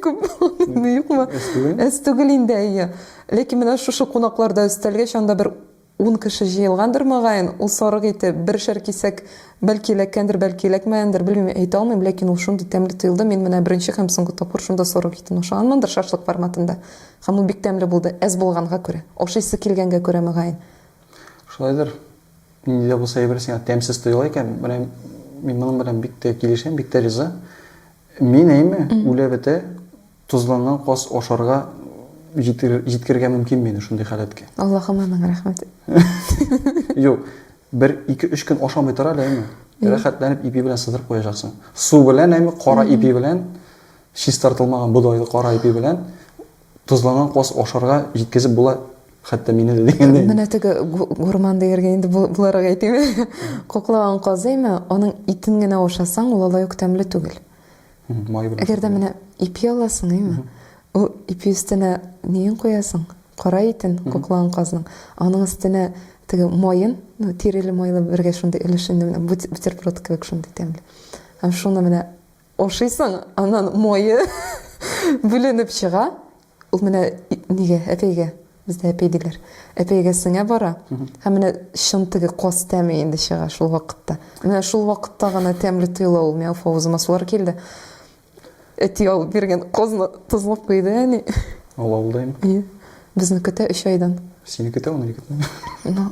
күп булганмы, юкмы? Әз түгел. Әз түгел инде, әйе. Ләкин менә шушы кунакларда өстәлгә чанда бер ун кеше җыелгандыр, мөгаен, ул сарык ите бершәр кисәк бәлки эләккәндер, бәлки эләкмәгәндер, белмим, әйтә алмыйм, ләкин ул шундый тәмле тоелды, мин менә беренче һәм соңгы тапкыр шунда сарык итен ашаганмындыр, шашлык форматында. Һәм ул бик тәмле булды, әз булганга күрә. Ашыйсы килгәнгә күрә, мөгаен. Шулайдыр. Нинди дә булса әйбер сиңа тәмсез тоела икән, менә мин моның белән бик тә килешәм, бик тә риза. Мин әйме, үлә-бетә, тозланган каз ашарга җиткерергә мөмкин мине шундый халәткә. Аллаһым аның рәхмәте. Юк, бер ике-өч көн ашамый тор әле, әйме. Рәхәтләнеп ипи белән сыдырып куячаксың. Су белән, әйме, кара ипи белән Чистартылмаган бодайлы кара ипи белән тозланган каз ашарга җиткезеп була, хәтта мине дә дигәндәй. Менә теге гурман дияргә инде буларак әйтим. Коклаган казы име, аның итен генә ашасаң, ул алай ук тәмле түгел. Май белән. Әгәр дә менә ипи аласың, име? Ул ипи өстенә неен куясың? Кара итен, коклаган казның. Аның өстенә теге майын, ну, тиреле майлы бергә шундый өлешен, бутерброд кебек шундый тәмле. Һәм шуны менә Ашыйсың, аннан мае бүленеп чыга. Ул менә нигә, әпәйгә, бездә әпәй диләр, әпәйгә сеңә бара. Һәм менә чын теге каз тәме инде чыга шул вакытта. Менә шул вакытта гына тәмле тоела ул. Миңа уф авызыма сулар килде. Әти алып биргән казны тозлап куйды әни. Ул авылда инде. Безне көтә өч айдан. Сине көтә ул егетне. Ну,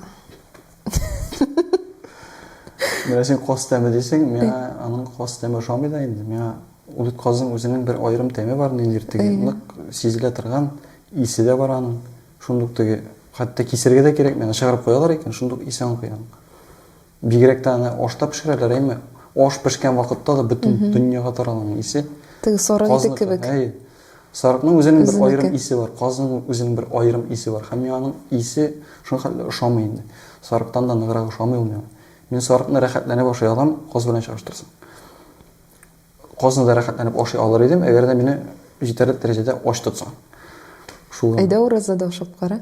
Менә син каз тәме дисең, миңа аның каз тәме ошамый да инде. Миңа ул казның үзенең бер аерым тәме бар, ниндидер теге нык сизелә торган исе дә бар аның. Шундук теге хәтта кисергә дә кирәк, миңа чыгарып куялар икән, шундук исе аңлап куям. Бигрәк тә аны ашта пешерәләр, әйме? Аш пешкән вакытта да бөтен дөньяга таралган исе. Теге соры иде кебек. Сарыкның үзенең бер аерым исе бар, казның үзенең бер аерым исе бар. Һәм миңа аның исе шул хәтле ошамый инде. Сарыктан да ныграк ошамый ул миңа. Мин сарыкны рәхәтләнеп ашый алам, каз белән чагыштырсаң. Казны да рәхәтләнеп ашый алыр идем, әгәр дә мине җитәрлек дәрәҗәдә ач тотсаң. Шул. Әйдә уразада ашап кара.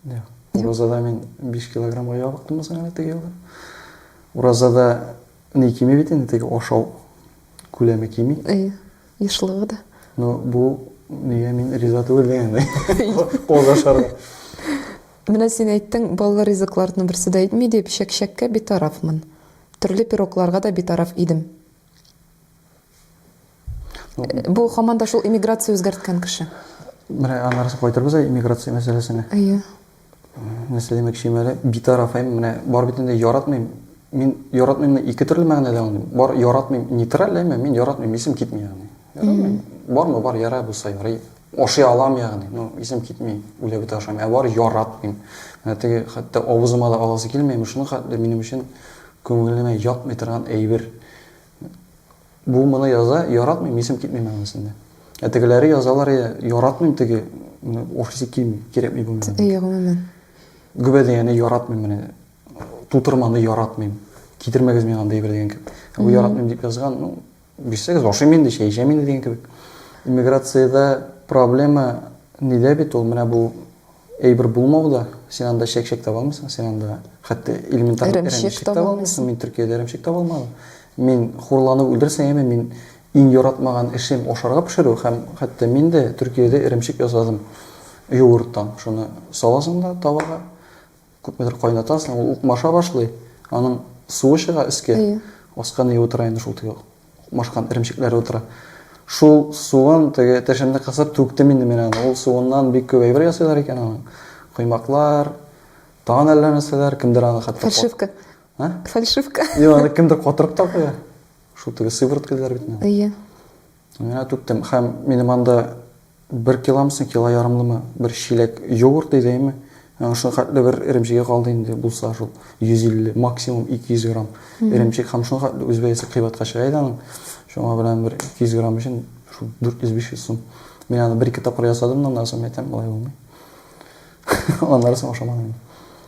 Юк. Уразада мин 5 килограммга ябыктым соң әле теге елда. Уразада ни кими бит инде теге ашау күләме кими. Әйе. Ешлыгы да. Ну, бу нигә мин риза түгел дигәндәй. Кол ашарга. Менә син әйттең, баллы ризыкларның берсе дә итми дип, чәкчәккә битарафмын. Төрле пирогларга да битараф идем. Бу хаман да шул эмиграция үзгәрткән кеше. Менә аннары кайтырбыз ә эмиграция мәсьәләсенә. Әйе. Нәрсә димәкчем әле? Битарафем, менә бар бит инде яратмыйм. Мин яратмыймны ике төрле мәгънәдә аңлыйм. Бар яратмыйм нейтраль, әмма мин яратмыйм, исем китми ягъни. Яратмыйм. Бармы бар, яра булса ярый. Ашый алам ягъни, но исем китми, үлә бит ашам. Ә бар яратмыйм. Менә теге хәтта авызыма да аласы килмәйме, шуның хәтле минем өчен күңелемә ятмый торган әйбер. Бу моны яза, яратмыйм, исем китми мәгънәсендә. Ә тегеләре язалар, я яратмыйм теге ну, офисе килми, кирәкми бу миңа. Әйе, гомумән. Гөбәдияне яратмыйм менә. Тутырманы яратмыйм. Китермәгез миңа андый бер дигән кебек. Ә бу яратмыйм дип язган, ну, бирсәгез ашыйм инде, чәй эчәм инде дигән кебек. Иммиграциядә проблема нидә бит ул? Менә бу Әйбер булмау да, син анда чәк-чәк таба алмыйсың, син анда хәтта элементар эремчек таба алмыйсың. Мин Төркиядә эремчек таба алмадым. Мин хурланып үлдерсә яме, мин иң яратмаган эшем ашарга пешерү һәм хәтта мин дә Төркиядә эремчек ясадым юырттан. Шуны саласың да тавага, Күпмедер кайнатасың, ул укмаша башлый, аның суы чыга өскә, аска ни утыра инде шул теге укмашкан эремчекләр утыра. Шул суын теге тешемне кысып түктем инде мин аны. Ул суыннан бик күп әйбер ясыйлар икән аның. Коймаклар, тагын әллә нәрсәләр, кемдер аны хәтта Фальшивка. А? Фальшивка. Юк, аны кемдер катырып та куя. Шул теге сыворотка диләр бит менә. Әйе. Менә түктем. Һәм минем анда бер киломсың, кило ярымлымы, бер чиләк йогурт иде, әйме? Аңа шул хәтле бер эремчеге калды инде, булса шул 150, максимум 200 грамм эремчек һәм шул хәтле үз бәясе кыйбатка чыга иде аның. Шуңа белән бер 200 грамм өчен шул 400-500 сум. Мин аны бер-ике тапкыр ясадым, но аннан соң әйтәм, болай булмый. Аннары соң ашамадым мин.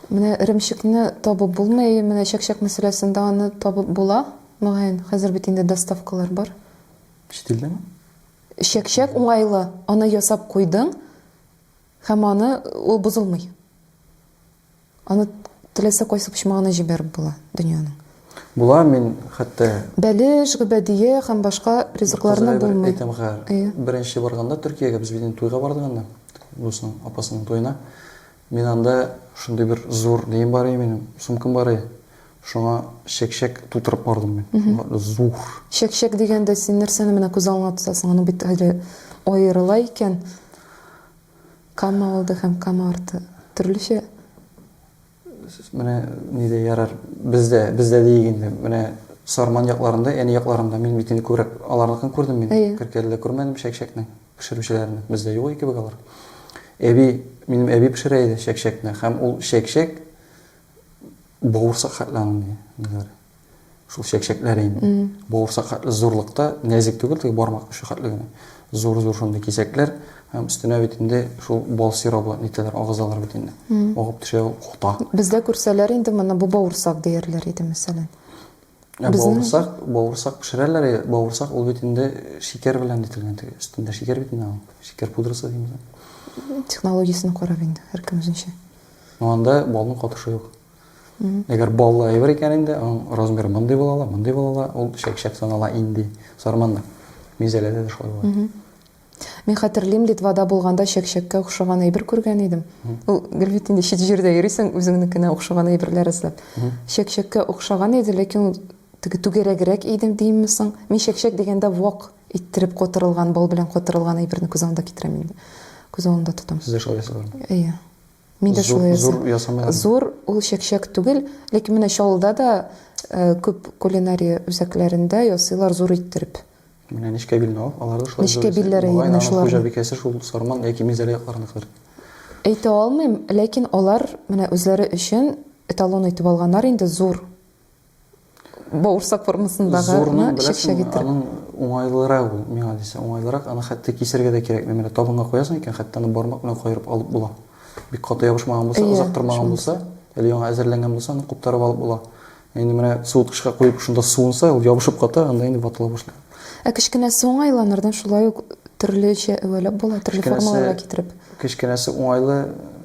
Менә эремчекне табып булмый, менә чәк-чәк мәсьәләсендә аны табып була, мөгаен. Хәзер бит инде доставкалар бар. Чит илдәме? Чәкчәк уңайлы, аны ясап куйдың һәм аны ул бозылмый. Аны теләсә кайсы почмагына җибәреп була дөньяның. Була, мин хәтта Бәлеш, гөбәдия һәм башка ризыкларны булмый. Әйтәм хәер. Беренче барганда Төркиягә без бит инде туйга бардык анда, дусның апасының туена. Мин анда шундый бер зур нем бар иде минем, сумкам бар иде. Шуңа чәк-чәк тутырып бардым мин. Зур. Чәк-чәк дигәндә син нәрсәне менә күз алдыңа тотасың? Аны бит әле аерыла икән. Кама алды һәм кама арты. Төрлечә. Менә нидә ярар? Бездә, бездә диик инде. Менә Сарман якларында, әни якларында мин бит инде күбрәк аларныкын күрдем мин. Киркәледә күрмәдем чәк-чәкне. Пешерүчеләрне бездә юк кебек алар. Әби, минем әби пешерә иде чәкчәкне һәм ул чәкчәк бавырсак хәтле аңлый. Диләр. Шул чәкчәкләр инде. Бавырсак хәтле зурлыкта, нәзек түгел, теге бармак очы хәтле генә. Зур-зур шундый кисәкләр һәм өстенә бит инде шул бал сиробы нитәләр, агызалар бит инде. Агып төшә ул кота. Бездә күрсәләр инде моны бу бавырсак диярләр иде, мәсәлән. Ә бавырсак, бавырсак пешерәләр, бавырсак ул бит инде шикәр белән ителгән, теге өстендә шикәр бит инде ул. Шикәр пудрасы димиз. Технологиясен карап инде, һәркем үзенчә. Ну анда балның катышы юк. Әгәр баллы әйбер икән инде, аның размеры мондый була ала, мондый була ала, ул чәк-чәк санала инде. Сарманда, мизәләдә дә шулай була. Мин хәтерлим, Литвада булганда чәкчәккә охшаган әйбер күргән идем. Ул гел бит инде чит җирдә йөрисең, үзеңнекенә охшаган әйберләр эзләп. Чәкчәккә охшаган иде, ләкин ул теге түгәрәгрәк идем димме соң? Мин чәкчәк дигәндә вак иттереп котырылган, бал белән котырылган әйберне күз алдына китерәм инде. Күз алдында тотам. Сез дә шулай ясадыгызмы? Әйе. Мин дә шулай ясадым. Зур ясамыйлар. Зур ул чәкчәк түгел, ләкин менә Чаллыда да э, күп кулинария үзәкләрендә ясыйлар зур иттереп. Менә нечкә билне ал, алар да шулай Нечкә зур. билләре Мөгаен, менә аның шуларның. хуҗабикәсе шул Сарман яки Минзәлә якларыныкыдыр. Әйтә алмыйм, ләкин алар менә үзләре өчен эталон итеп алганнар инде зур бавырсак формасындагы Зурны, ны беләсеңме, чәкчәк иттереп. аның уңайлырак ул, миңа дисәң, уңайлырак. Аны хәтта кисәргә дә кирәкми. Менә табынга куясың икән, хәтта аны бармак белән каерып алып була. Бик каты ябышмаган булса, Әйе, озак тормаган шунысы. булса, әле яңа әзерләнгән булса, аны куптарып алып була. Инде менә суыткычка куеп, шунда суынса, ул ябышып ката, анда инде ватыла башлый. Ә кечкенә соң айланырдан шулай ук төрлечә әвәләп була, төрле формаларга китереп. Кечкенәсе уңайлы,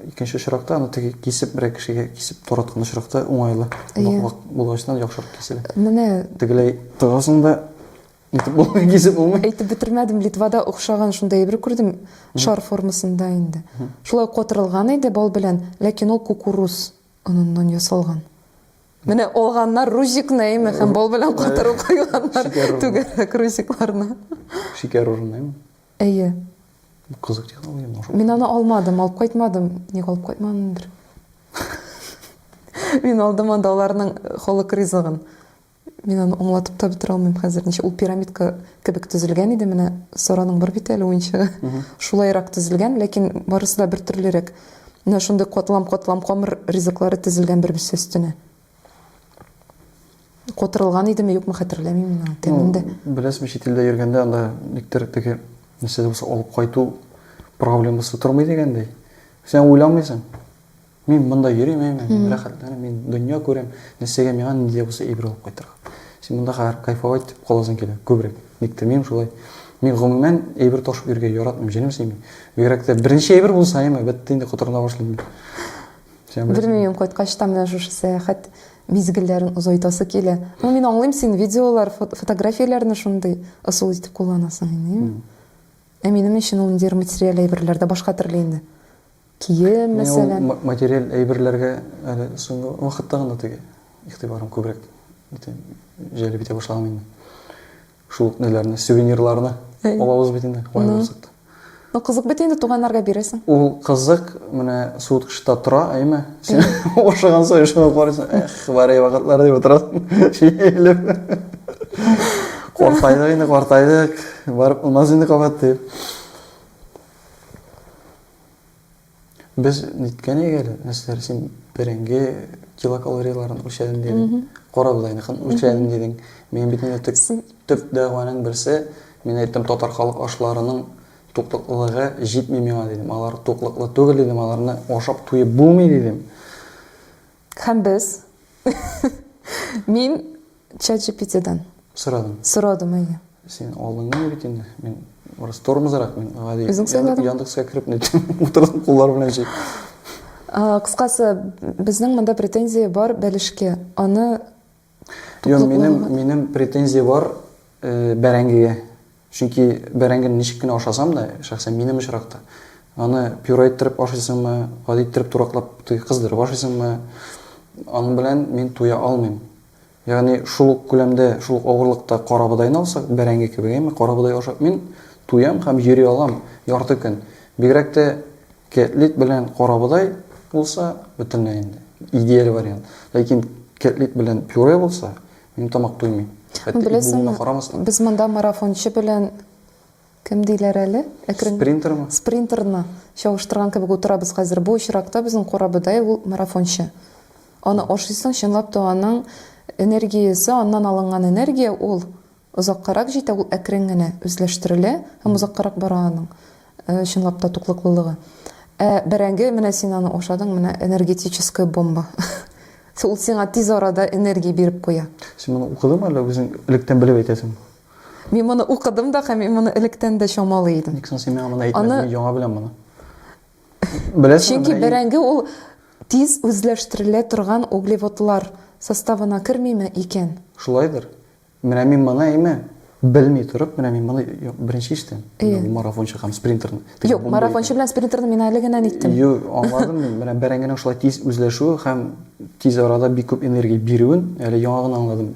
икенче очракта аны теге кисеп берәр кешегә кисеп тараткан очракта уңайлы. Ноклак булгачтан яхшырак киселә. Менә тегеләй тыгасың да итеп булмый, кисеп булмый. Әйтеп бетермәдем, Литвада охшаган шундай әйбер күрдем, шар формасында инде. Шулай катырылган иде бал белән, ләкин ул кукуруз. Оныннан ясалган. Менә алганнар рузикны, әйме, һәм бал белән катырып куйганнар түгәрәк рузикларны. Шикәр урынына, әйме? Әйе. Кызык технология моңа. Мин аны алмадым, алып кайтмадым. Ник алып кайтмадымдыр? Мин алдым анда аларның халык ризыгын. Мин аны аңлатып та бетерә алмыйм хәзер. Ничә ул пирамидка кебек төзелгән иде менә Сараның бер бит әле уенчыгы. Шулайрак төзелгән, ләкин барысы да бер төрлерәк. Менә шундый катлам-катлам камыр ризыклары тезелгән бер-берсе өстенә. Котырылган идеме, юкмы хәтерләмим мин аны тәмен дә. Беләсезме, чит илдә йөргәндә анда никтер теге нәрсә булса алып кайту проблемасы тормый дигәндәй. Син уйламыйсың. Мин монда йөрим, әйме, мин рәхәтләнәм, мин дөнья күрәм, нәрсәгә миңа нинди дә булса ибралып кайтырга. Син монда хәзер кайфовать итеп каласың килә, күбрәк. Никтер минем шулай. Мин гомумән әйбер ташып йөрергә яратмыйм, җенем сөйми. Бигрәк тә беренче әйбер булса, әйме, бетте инде котырына башлыйм. Белмим, кайткач та менә шушы сәяхәт мизгелләрен озайтасы килә. Ну, мин аңлыйм, син видеолар, фотографияләрне шундый ысул итеп кулланасың инде, әйме. Ә минем өчен ул инде материаль әйберләр дә башка төрле инде. Кием, мәсәлән. Мин ул материаль әйберләргә әле соңгы вакытта гына теге игътибарым күбрәк бөтен җәлеп итә башлаган инде. Шул ук ниләрне, сувенирларны алабыз бит инде, кая барсак та. Ну, кызык бит инде, туганнарга бирәсең. Ул кызык, менә суыткычта тора, әйме, син ашаган саен шуны алып карыйсың, эх, бар иде вакытлар, дип утырасың, җилеп. Картайдык инде, картайдык, барып булмас инде кабат, дип. Без ниткән әгәр, нәрсәләр син бәрәңге килокалорияларын үлчәдем дидең, кара бодайныкын үлчәдем дидең. Мин бит инде төп, төп дәгъваның берсе, мин әйттем татар халык ашларының туклыклылыгы җитми миңа дидем. Алар туклыклы түгел дидем, аларны ашап туеп булмый дидем. Һәм без. Мин чат-җипитидан. Сорадым. Сорадым, әйе. Син алдыңгы бит инде. Мин урыс тормызрак, мин гади. Үзең сайладың. Яндекска кереп не утырдым куллар белән җи. Кыскасы, безнең монда претензия бар бәлешкә. Аны Юк, минем, минем претензия бар бәрәңгегә. Чөнки бәрәңгене ничек кенә ашасам да, шәхсән минем очракта, аны пюре иттереп ашыйсыңмы, гади иттереп тураклап кыздырып ашыйсыңмы, аның белән мин туя алмыйм. Ягъни шул ук күләмдә, шул ук авырлыкта карабодайны алсак, бәрәңге кебек, әйме, карабодай ашап мин туям һәм йөри алам ярты көн. Бигрәк тә Кэтлит белән карабодай булса, бөтенләй инде идеаль вариант. Ләкин кэтлит белән пюре булса, минем тамак туймый. Хәтта Беләсеңме, карамастан. Без монда марафончы белән кем диләр әле? Әкрен... Спринтермы? Спринтерны чагыштырган кебек утырабыз хәзер. Бу очракта безнең карабодай ул марафончы. Аны ашыйсың, чынлап та аның энергиясе, аннан алынган энергия ул Озаккарак җитә, ул әкрен генә үзләштерелә һәм озаккарак бара аның, чынлап та, туклыклылыгы. Ә бәрәңге, менә син аны ашадың, менә энергетическая бомба. Ул сиңа тиз арада энергия биреп куя. Син моны укыдыңмы, әллә үзең электән белеп әйтәсеңме? Мин моны укыдым да һәм мин моны электән дә чамалый идем. Ник соң син миңа моны әйтмәдең? Мин яңа беләм моны. Беләсеңме? Чөнки бәрәңге ул тиз үзләштерелә торган углеводлар составына кермиме икән? Шулайдыр. Менә мин моны әйме, белми торып, менә мин моны беренче иштем. Менә бу марафончы һәм спринтерны. Юк, марафончы белән спринтерны мин әле генә әйттем. Юк, аңладым мин. Менә бәрәңгенең шулай тиз үзләшүе һәм тиз арада бик күп энергия бирүен әле яңа гына аңладым.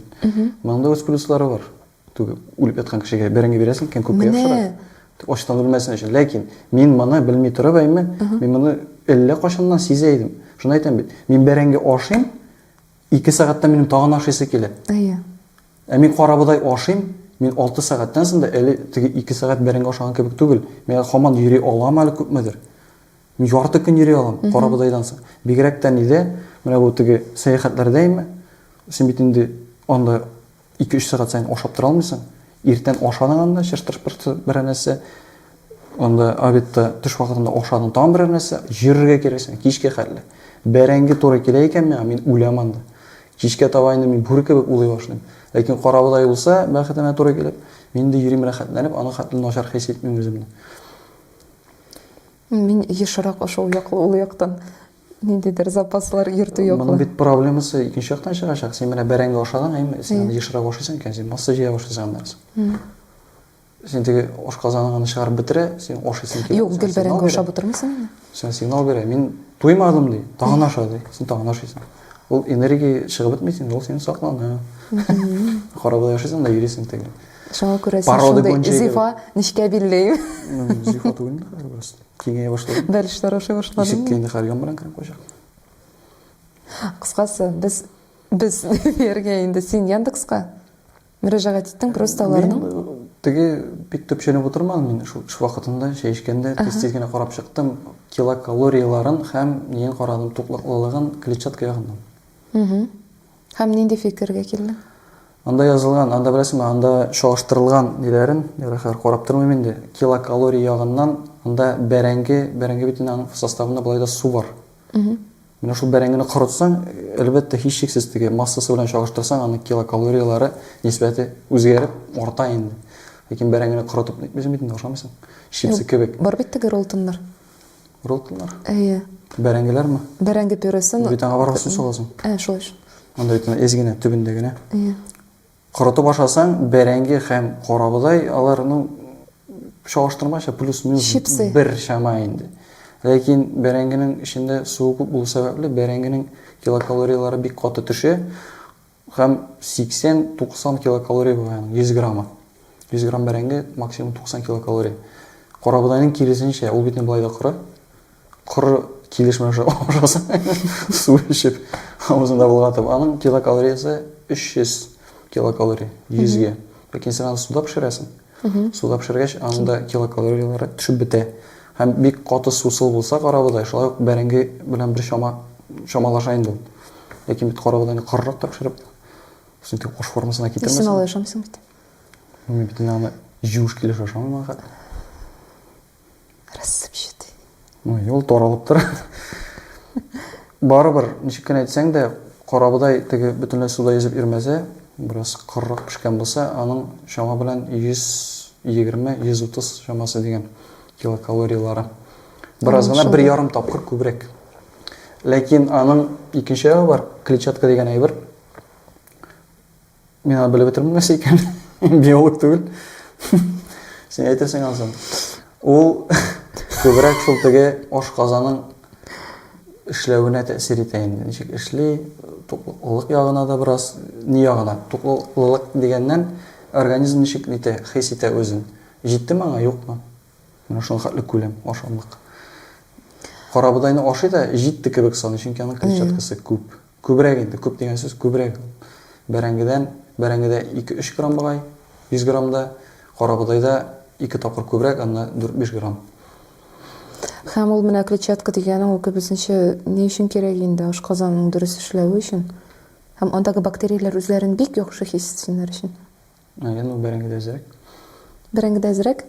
Моның да үз плюслары бар. Түгел, үлеп яткан кешегә бәрәңге бирәсең икән, күпкә яхшырак. Ачтан үлмәсен өчен. Ләкин мин моны белми торып әйме, мин моны әллә кайчаннан сизә идем. Шуны әйтәм бит. Мин бәрәңге ашыйм, Ике сәгатьтә минем тагын ашыйсы килә. Әйе. Ә мин карабодай ашыйм, мин 6 сәгатьтән соң да әле теге 2 сәгать бәрәңге ашаган кебек түгел. Мин хаман йөри алам әле күпмедер. Мин ярты көн йөри алам карабодайдан соң. Бигрәк тә нидә, менә бу теге сәяхәтләрдә име, син бит инде анда Ике-өч сәгать саен ашап тора алмыйсың. Иртән ашадың анда, чыртыр-пыртыр берәр нәрсә. Анда обедта, төш вакытында ашадың, тагын берәр нәрсә. Йөрергә керәсең, кичкә хәтле. Бәрәңге туры килә икән миңа, мин үләм анда. Кичкә таба инде мин бүре кебек улый башлыйм. Ләкин карабодай булса, бәхетемә туры килеп, мин инде йөрим рәхәтләнеп, аның хәтле начар хис итмим үземне. Мин ешрак шул яклы, ул яктан. Ниндидер запаслар йөртү юк. Моның бит проблемасы икенче яктан чыгачак. Син менә бәрәңге ашадан, әйме? Син аны ешрак ашыйсың икән, син масса җыя башлыйсың аннан соң. Син теге ашказаның аны чыгарып бетерә, син ашыйсың килә. Юк, гел бәрәңге ашап утырмыйсың инде. Син сигнал бирә, мин туймадым ди, тагын аша ди. Син тагын ашыйсың. Ул энергия чыгып бетми син, ул син саклана. Карабуда яшисең да йөрисең теге. Шуңа күрә син шундый зифа нечкә билле. Зифа түгел инде, Киңәя башлады. Бәлешләр ашый башлады. Ишеккә инде хәлгән белән кереп куйачак. Кыскасы, без без дияргә инде син Яндекска мөрәҗәгать иттең просто аларның. Мин теге бик төпченеп утырмадым мин шул эш вакытында чәй эчкәндә тиз-тиз генә карап чыктым. Килокалорияларын һәм ниен карадым, туклыклылыгын, клетчатка ягыннан. Һәм нинди фикергә килдең? Анда язылган, анда беләсеңме, анда чагыштырылган ниләрен, яраһар, карап тормыйм инде. Килокалорий ягыннан анда бәрәңге, бәрәңге бит инде аның составында болай да су бар. Менә шул бәрәңгене корытсаң, әлбәттә, һичшиксез теге массасы белән чагыштырсаң, аның килокалорияләре нисбәте үзгәреп, арта инде. Ләкин бәрәңгене корытып итмисең бит инде, ашамыйсың. Чипсы кебек. Бар бит теге роллтоннар. Роталар? Әйе. Бәрәңгеләрме? Бәрәңге пюресын. Бит аңа барган сусын саласың. Ә, шулай шул. Анда бит әз генә төбендә генә. Әйе. Корытып ашасаң, бәрәңге һәм карабодай алар, ну, чагыштырмача плюс-минус бер чама инде. Ләкин бәрәңгенең эчендә суы күп булу сәбәпле, бәрәңгенең килокалорияләре бик каты төшә. Һәм 80-90 килокалория була аның 100 грамы. 100 грамм бәрәңге, максимум 90 килокалория. Карабодайның киресенчә, ул бит инде болай да коры. Коры килеш менә шулай ашасаң, су эчеп, авызыңда болгатып, аның килокалориясе 300 килокалория 100 гә. Ләкин син аны суда пешерәсең. Суда пешергәч, аның да килокалорияләре төшеп бетә. Һәм бик каты сусыл булса карабодай, шулай ук бәрәңге белән бер чама чамалаша инде ул. Ләкин бит карабодайны карырак та пешереп, шундый дип кош формасына китермәсен. Исен алып ашамыйсың бит. Мин бит инде аны җуеш килеш ашамыйм ахыр. рассыпчатый ну юл таралып тора барыбер ничек кенә әйтсәң дә карабодай теге бөтенләй суда йөзеп йөрмәсә бераз корырак пешкән булса аның чама белән 120-130 чамасы дигән килокалориялары бераз гына бер ярым тапкыр күбрәк ләкин аның икенче ягы бар клетчатка дигән әйбер Мин аны белеп бетермим нәрсә икән. Биолог түгел. Син әйтерсең ансын. Ул күбрәк шул теге ашказаның эшләвенә тәэсир итә инде. Ничек эшли, туклылык ягына да бераз, ни ягына? Туклылык дигәннән, организм ничек итә, хис итә үзен. Җитте маңа, юкмы? Менә шуның хәтле күләм ашамлык. Карабудайны ашый да җитте кебек саный, чөнки аның клетчаткасы күп. Күбрәк инде, күп дигән сүз күбрәк. Бәрәңгедән, бәрәңгедә ике-өч грамм богай, 100 граммда, карабодайда ике тапкыр күбрәк, анда дүрт-биш грамм. Һәм ул менә клетчатка дигәнең, ул кебесенчә ни өчен кирәк инде, ашказанның дөрес эшләве өчен. Һәм андагы бактерияләр үзләрен бик яхшы хис итсеннәр өчен. Әйе, ну бәрәңгедә әзрәк. Бәрәңгедә әзрәк?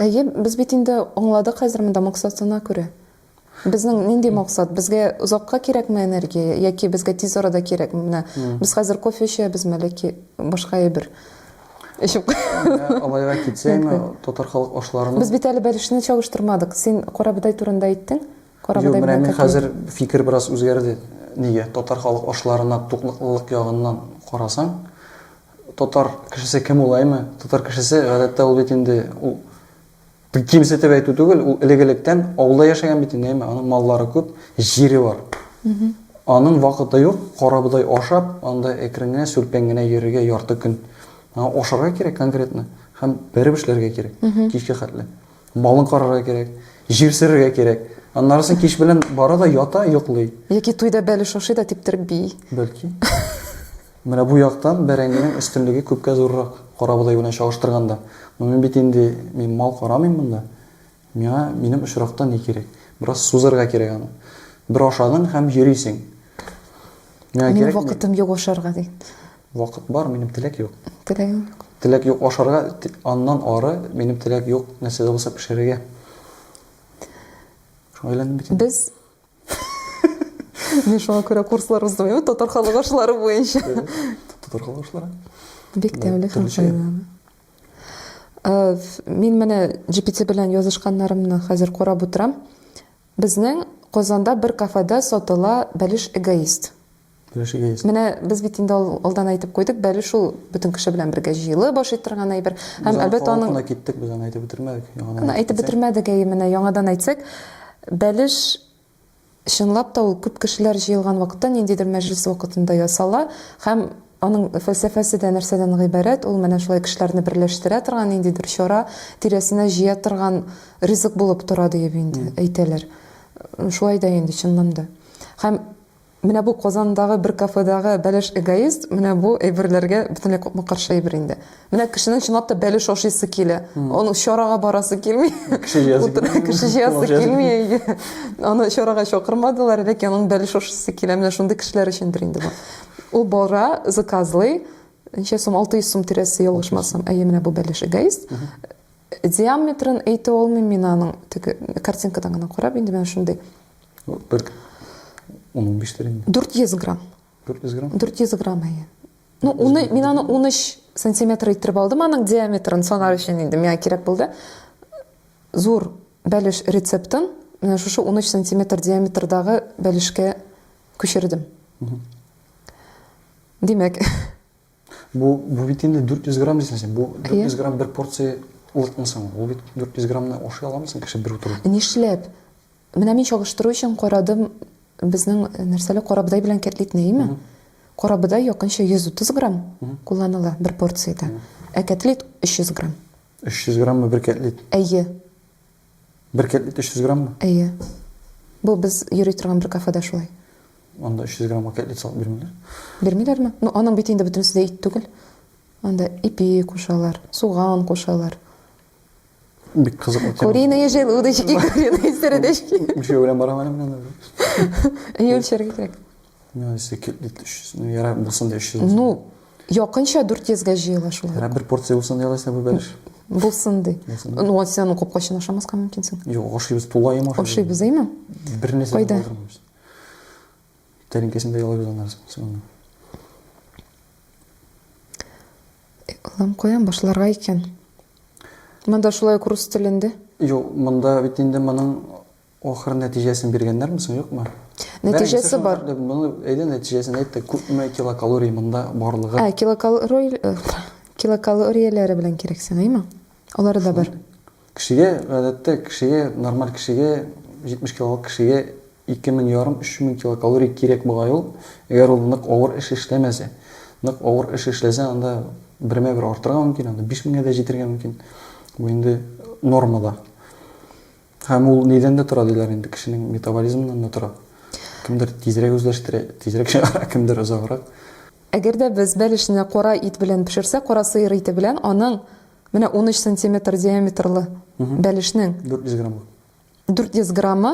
Әйе, без бит инде аңладык хәзер монда максатына күрә. Безнең нинди максат? Безгә озакка кирәкме энергия яки безгә тиз арада кирәкме? Менә без хәзер кофе эчәбезме, ләки башка әйбер эчеп Алайга китсәме, татар халык ашларының Без бит әле бәлешне чагыштырмадык. Син карабыдай турында әйттең. Карабыдай белән. Менә хәзер фикер бераз үзгәрде. Нигә? Татар халык ашларына туклыклылык ягыннан карасаң, Татар кешесе кем ул, әйме? Татар кешесе, гадәттә, ул бит инде, ул бик кимсетеп әйтү түгел, ул элек-электән авылда яшәгән бит инде, әйме? Аның маллары күп, җире бар. Аның вакыты юк, карабодай ашап, анда әкрен генә, сүлпән генә йөрергә ярты көн. Аңа ашарга кирәк конкретно һәм бәреп эшләргә кирәк, кичкә хәтле. Малын карарга кирәк, җир сөрергә кирәк. Аннары соң кич белән бара да ята, йоклый. Яки туйда бәлеш ашый да типтереп бии. Бәлки. Менә бу яктан бәрәңгенең өстенлеге күпкә зуррак, карабодай белән чагыштырганда. Но мин бит инде, мин мал карамыйм монда. Миңа минем очракта ни кирәк? Бераз сузырга кирәк аны. Бер ашадың һәм йөрисең. Миңа Минем кирәкми. вакытым юк ашарга ди. Вакыт бар, минем теләк юк. Теләгең юк. Теләк юк ашарга, те- аннан ары минем теләк юк нәрсә дә булса пешерергә. Шуңа өйләндем бит. инде. Без Мин шуңа күрә курслар уздым, әйе, татар халык ашлары буенча. Татар халык ашлары. Бик Да, тәмле һәм төрлечә. файдалы. Э, ф- Мин менә GPT белән язышканнарымны хәзер карап утырам. Безнең Казанда бер кафеда сатыла бәлеш эгоист. Бәлеш эгоист. Менә без бит инде алдан әйтеп куйдык, бәлеш ул бөтен кеше белән бергә җыелып ашый торган әйбер. Һәм әлбәттә аның Кына киттек, без аны әйтеп бетермәдек. Яңадан әйтеп бетермәдек, әйе, менә яңадан әйтсәк, бәлеш чынлап та ул күп кешеләр җыелган вакытта, ниндидер мәҗлес вакытында ясала һәм Аның фәлсәфәсе дә нәрсәдән гыйбарәт? Ул менә шулай кешеләрне берләштерә торган ниндидер чара, тирәсенә җыя торган ризык булып тора диеп инде әйтәләр. Шулай да инде, чыннан да. Һәм менә бу Казандагы бер кафедагы бәлеш эгоист менә бу әйберләргә бөтенләй капма-каршы әйбер инде. Менә кешенең чынлап та бәлеш ашыйсы килә. Аны чарага барасы килми. Кеше җыясы килми. Кеше җыясы килми. Аны чарага чакырмадылар, ләкин аның бәлеш ашыйсы килә. Менә шундый кешеләр өчендер инде бу. Ул бара, заказлый. Ничә сум? 600 сум тирәсе ялгышмасам. Әйе, менә бу бәлеш эгоист. Диаметрын әйтә алмыйм мин аның. Теге картинкадан гына карап инде менә шундый. Бер 10-15 тирән. 400 грамм. 400 грамм? 400 грамм, әйе. Ну, уны, мин аны 13 сантиметр иттереп алдым, аның диаметрын санар өчен инде миңа кирәк булды. Зур бәлеш рецептын менә шушы 13 сантиметр диаметрдагы бәлешкә күчердем. Димәк, Бу, бу бит инде 400 грамм дисең син. Бу 400 грамм бер порция улытмы соң? Ул бит 400 граммны ашый аламы соң кеше бер утыру? Нишләп? Менә мин чагыштыру өчен карадым безнең э, нәрсәле карабыдай белән кәтлитне, име? Карабыдай якынча 130 грамм кулланыла бер порцияда. Ә кәтлит 300 грамм. 300 граммы бер кәтлит. Әйе. Бер кәтлит 300 граммы? Әйе. Бу без йөри торган бер кафеда шулай. Анда 300 граммга кәтлит салып бирмиләр. Бирмиләрме? Ну, аның бит инде бөтенесе дә ит түгел. Анда ипи кушалар, суган кушалар. Бик кызыклы тема. Куриные желудочки, куриные сердечки. Үлчәү белән барам әле мин анда. Әйе, үлчәргә кирәк. Ну, если кет бит 300, ну, яра булсын да 300 булсын. Ну, якынча 400-гә җыела шул. Яра бер порция булсын да ялайса бу бәлеш. Булсын ди. Ну, а сен капкачын ашамаска мөмкинсең. Юк, ашыйбыз, тулаем ашыйбыз. Ашыйбыз, әйме? Бер нәрсә булдырмыйбыз. Тәринкәсендә ялайбыз аннарыз. Соңына. Алам куям башларга икән. Монда шулай рус телендә. Юк, монда бит инде моның Ахыр нәтиҗәсен биргәннәрме соң, юкмы? Нәтиҗәсе бар. Моны әйдә нәтиҗәсен әйт, күпме килокалорий монда барлыгы? Ә, килокалорий э, килокалорияләре белән кирәк саныймы? Алары да бар. Кешегә, гадәттә, кешегә, нормаль кешегә, 70 килолык кешегә 2000 ярым 3000 килокалорий кирәк була ул. Әгәр ул нык авыр эш эшләмәсә, нык авыр эш эшләсә, анда бермә бер артырга мөмкин, анда 5000 дә җитергә мөмкин. Бу инде нормада. Һәм ул нидән дә тора диләр инде, кешенең метаболизмыннан да тора. Кемдер тизрәк үзләштерә, тизрәк чыгара, кемдер озаграк. Әгәр дә без бәлешне кара ит белән пешерсәк, кара сыер ите белән, аның менә унөч сантиметр диаметрлы бәлешнең. Дүрт йөз граммы. Дүрт йөз граммы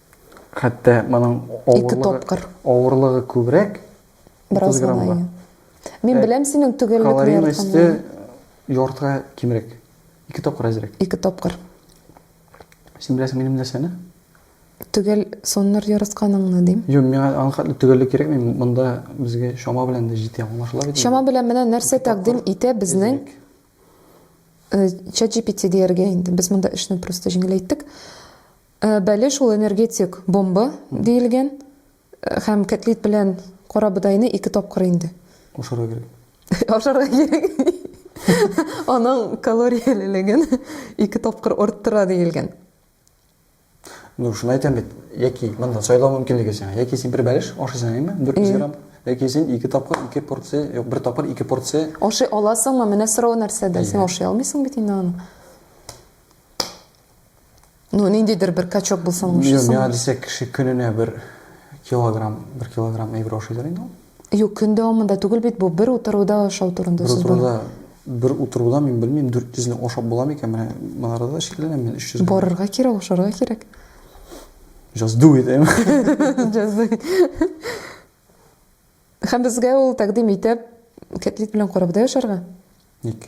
Хәтта моның авырлыгы, авырлыгы күбрәк. Бераз гына. Мин беләм синең төгәллек ни Калорий мәсте яртыга кимрәк. Ике тапкыр әзрәк. Ике тапкыр. Син беләсең минем нәрсәне? Төгәл соннар ярысканыңны дим. Юк, миңа аның хәтле төгәллек кирәкми. Монда безгә чама белән дә җитә, аңлашыла бит. Чама белән менә нәрсә тәкъдим итә безнең ChatGPT дияргә инде. Без монда эшне просто җиңеләйттек. Бәле шул энергетик бомба диелгән һәм кәтлит белән карабодайны ике тапкыр инде. Ашарга кирәк. Ашарга кирәк. Аның калориялелеген ике тапкыр арттыра диелгән. Ну, шуны әйтәм бит. Яки монда сайлау мөмкинлеге сиңа. Яки син бер бәлеш ашыйсың, әйме? 400 грамм. Яки син ике тапкыр ике порция, юк, бер тапкыр ике порция. Ашый аласыңмы? Менә сорау нәрсәдә? Син ашый алмыйсың бит инде аны. Ну, ниндидер бер качок булсын лучше. Мин миңа дисәк кеше көненә бер килограмм, бер килограмм әйбер ашый дер инде ул. Юк, көн дәвамында түгел бит бу, бер утыруда ашау турында сүз бар. Бер утыруда, бер утыруда мин белмим, 400 ны ашап була микән? Менә монарда да шикләнәм мин 300. Барырга кирәк, ашарга кирәк. Just do it, әйме? Just do it. Хәм безгә ул тәкъдим итеп, кәтлит белән карабда яшәргә? Ник?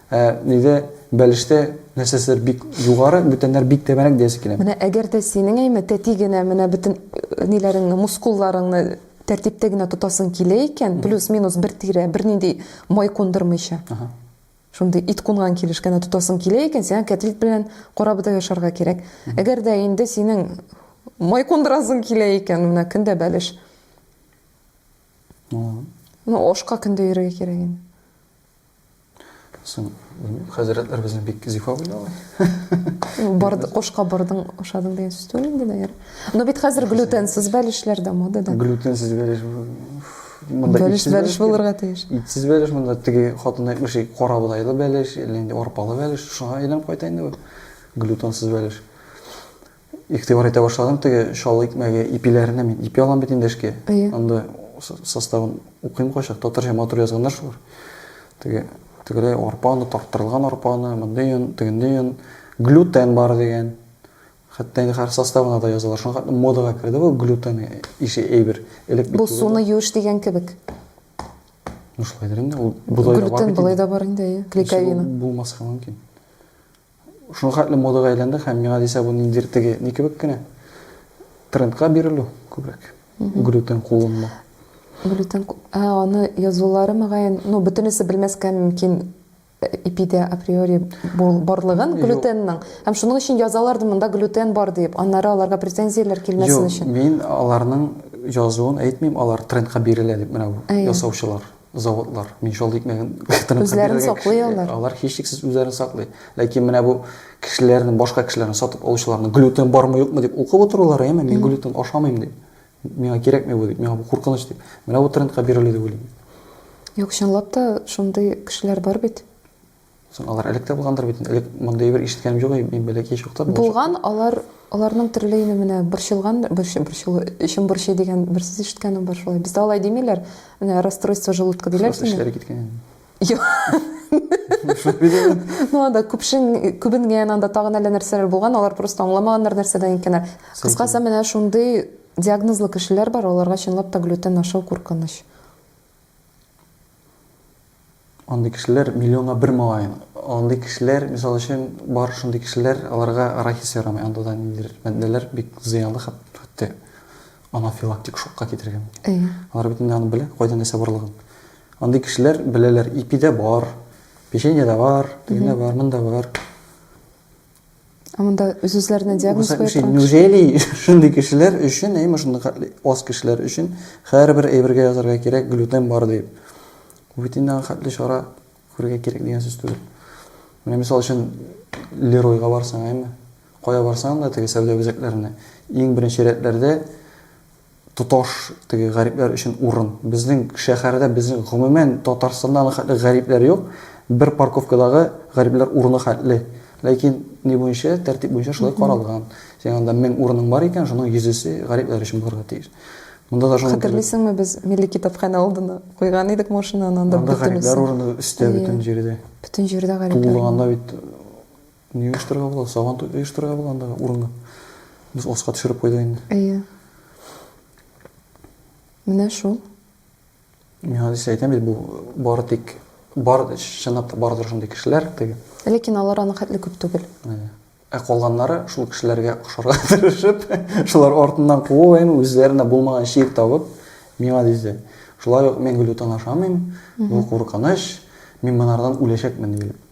Ә нидә бәлештә нәрсәседер бик югары, бүтәннәр бик тәбәнәк диясе килә. Менә әгәр дә синең әйме тәти генә менә бөтен ниләреңне, мускулларыңны тәртиптә генә тотасың килә икән, плюс-минус бер тирә, бернинди май кундырмыйча, шундый ит кунган килеш кенә тотасың килә икән, сиңа кәтлит белән карабодай ашарга кирәк. Әгәр дә инде синең май кундырасың килә икән, менә көн дә бәлеш. Ну, ашка көн дә йөрергә кирәк инде. Соң, белмим, хәзрәтләр безне бик зифа уйлый. Барды, кошка бардың, ашадың дигән сүз түгел инде, наверное. Но бит хәзер глютенсыз бәлешләр дә модада. Глютенсыз бәлеш монда бәлеш бәлеш булырга тиеш. Итсез бәлеш монда теге хатын әйтмеши, кара бодайлы бәлеш, әллә инде арпалы бәлеш, шуңа әйләнеп кайта инде бу. Глютенсыз бәлеш. Игътибар итә башладым теге чаллы икмәге ипиләренә мин ипи алам бит инде эшкә. Анда составын укыйм кайчак, татарча матур язганнар шулар. Теге тегеләй арпа оны, тарттырылган арпа оны, мондый он, тегенди он, глютен бар дигән. Хәтта инде хәзер составына да язалар. Шуңа хәтле модага керде бу глютен ише әйбер. Элек бит Бу суны юеш дигән кебек. Ну шулайдыр инде, ул болай да бар бит. Глютен болай да бар инде, әйе, клейковина. Булмаска мөмкин. Шуңа хәтле модага әйләнде һәм миңа дисә бу ниндидер теге ни кебек кенә трендка бирелү күбрәк. Глютен кулланма. Глютен, ә аны язулары мөгаен, ну бөтенесе белмәскә мөмкин ипидә априори барлыгын глютенның. Һәм шуның өчен язалар да монда глютен бар дип, аннары аларга претензияләр килмәсен өчен. Мин аларның язуын әйтмим, алар трендка бирелә дип менә ясаучылар. заводлар мунчала икмәген үзләрен саклый алар алар һичшиксез үзләрен саклый ләкин менә бу кешеләрне башка кешеләрне сатып алучыларны глютен бармы юкмы дип укып утырулар яме мин глютен ашамыйм дип миңа кирәкми бу дип миңа бу куркыныч дип менә бу трендка бирелү дип уйлыйм юк чынлап та шундый кешеләр бар бит Соң алар элек тә булгандыр бит. Элек мондый бер ишеткәнем юк, мин бәләкәй чакта. Булган, алар аларның төрлеене менә борчылган, борчы, борчылу, эчем борчый дигән бер сүз ишеткәнем бар шулай. Бездә алай димиләр. Менә расстройство желудка диләр. Просто эшләре киткән. Юк. Ну анда күпшен күбенгән, анда тагын әллә нәрсәләр булган, алар просто аңламаганнар нәрсәдән икәннәр. Кыскасы менә шундый диагнозлы кешеләр бар, аларга чынлап та глютен ашау куркыныч. Андый кешеләр миллионга бер малаен. Андый кешеләр, мисал өчен, бар шундый кешеләр, аларга арахис ярамый. Анда да ниндидер матдәләр бик зыянлы, хәтта анафилактик шокка китерергә мөмкин. Әйе. Алар бит инде аны белә, кайда нәрсә барлыгын. Андый кешеләр беләләр, ипидә бар, печеньеда бар, тегендә бар, монда бар. Ә монда үз-үзләренә диагноз куя торган Неужели шундый кешеләр өчен, әйме шундый хәтле аз кешеләр өчен һәрбер әйбергә язарга кирәк глютен бар дип. Бу бит инде хәтле чара күрергә кирәк дигән сүз түгел. Менә мисал өчен Леройга барсаң, әйме? Кая барсаң да теге сәүдә үзәкләренә, иң беренче рәтләрдә тоташ теге гарипләр өчен урын. Безнең шәһәрдә, безнең гомумән Татарстанда аның хәтле гарипләр юк. Бер парковкадагы гарипләр урыны хәтле. Ләкин ни буенча, тәртип буенча шулай каралган. Синең анда 1000 урының бар икән, шуның йөзесе гарипләр өчен булырга тиеш. Монда да шуның кебек. Хәтерлисеңме, без Милли китапханә алдына куйган идек машинаны, анда бөтенесе. Анда гарипләр урыны өстә бөтен җирдә. Бөтен җирдә гарипләр. Тулганда бит Ни оештырырга була? Сабан туй оештырырга була андагы урынга. Без аска төшереп куйдык инде. Әйе. Менә шул. Мин хәзер сәйтәм бит бу бары тик бар чынлап та бардыр шундый кешеләр теге. Ләкин алар аның хәтле күп түгел. Әйе. Ә калганнары шул кешеләргә охшарга тырышып, шулар артыннан куып, әйме үзләренә булмаган шик табып, миңа дисә, шулай ук мин гөлүтан ашамыйм, бу куркыныч, мин монардан үләчәкмен диелеп.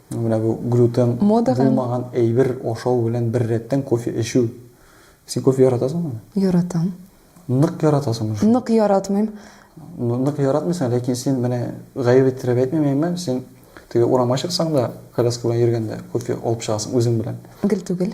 Менә бу глютен булмаган әйбер ашау белән беррәттән кофе эчү. Син кофе яратасыңмы? Яратам. Нык яратасыңмы шуны? Нык яратмыйм. Нык яратмыйсың, ләкин син менә гаеп иттереп әйтмим, әмма син теге урамга чыксаң да, коляска белән йөргәндә кофе алып чыгасың үзең белән. Гел түгел.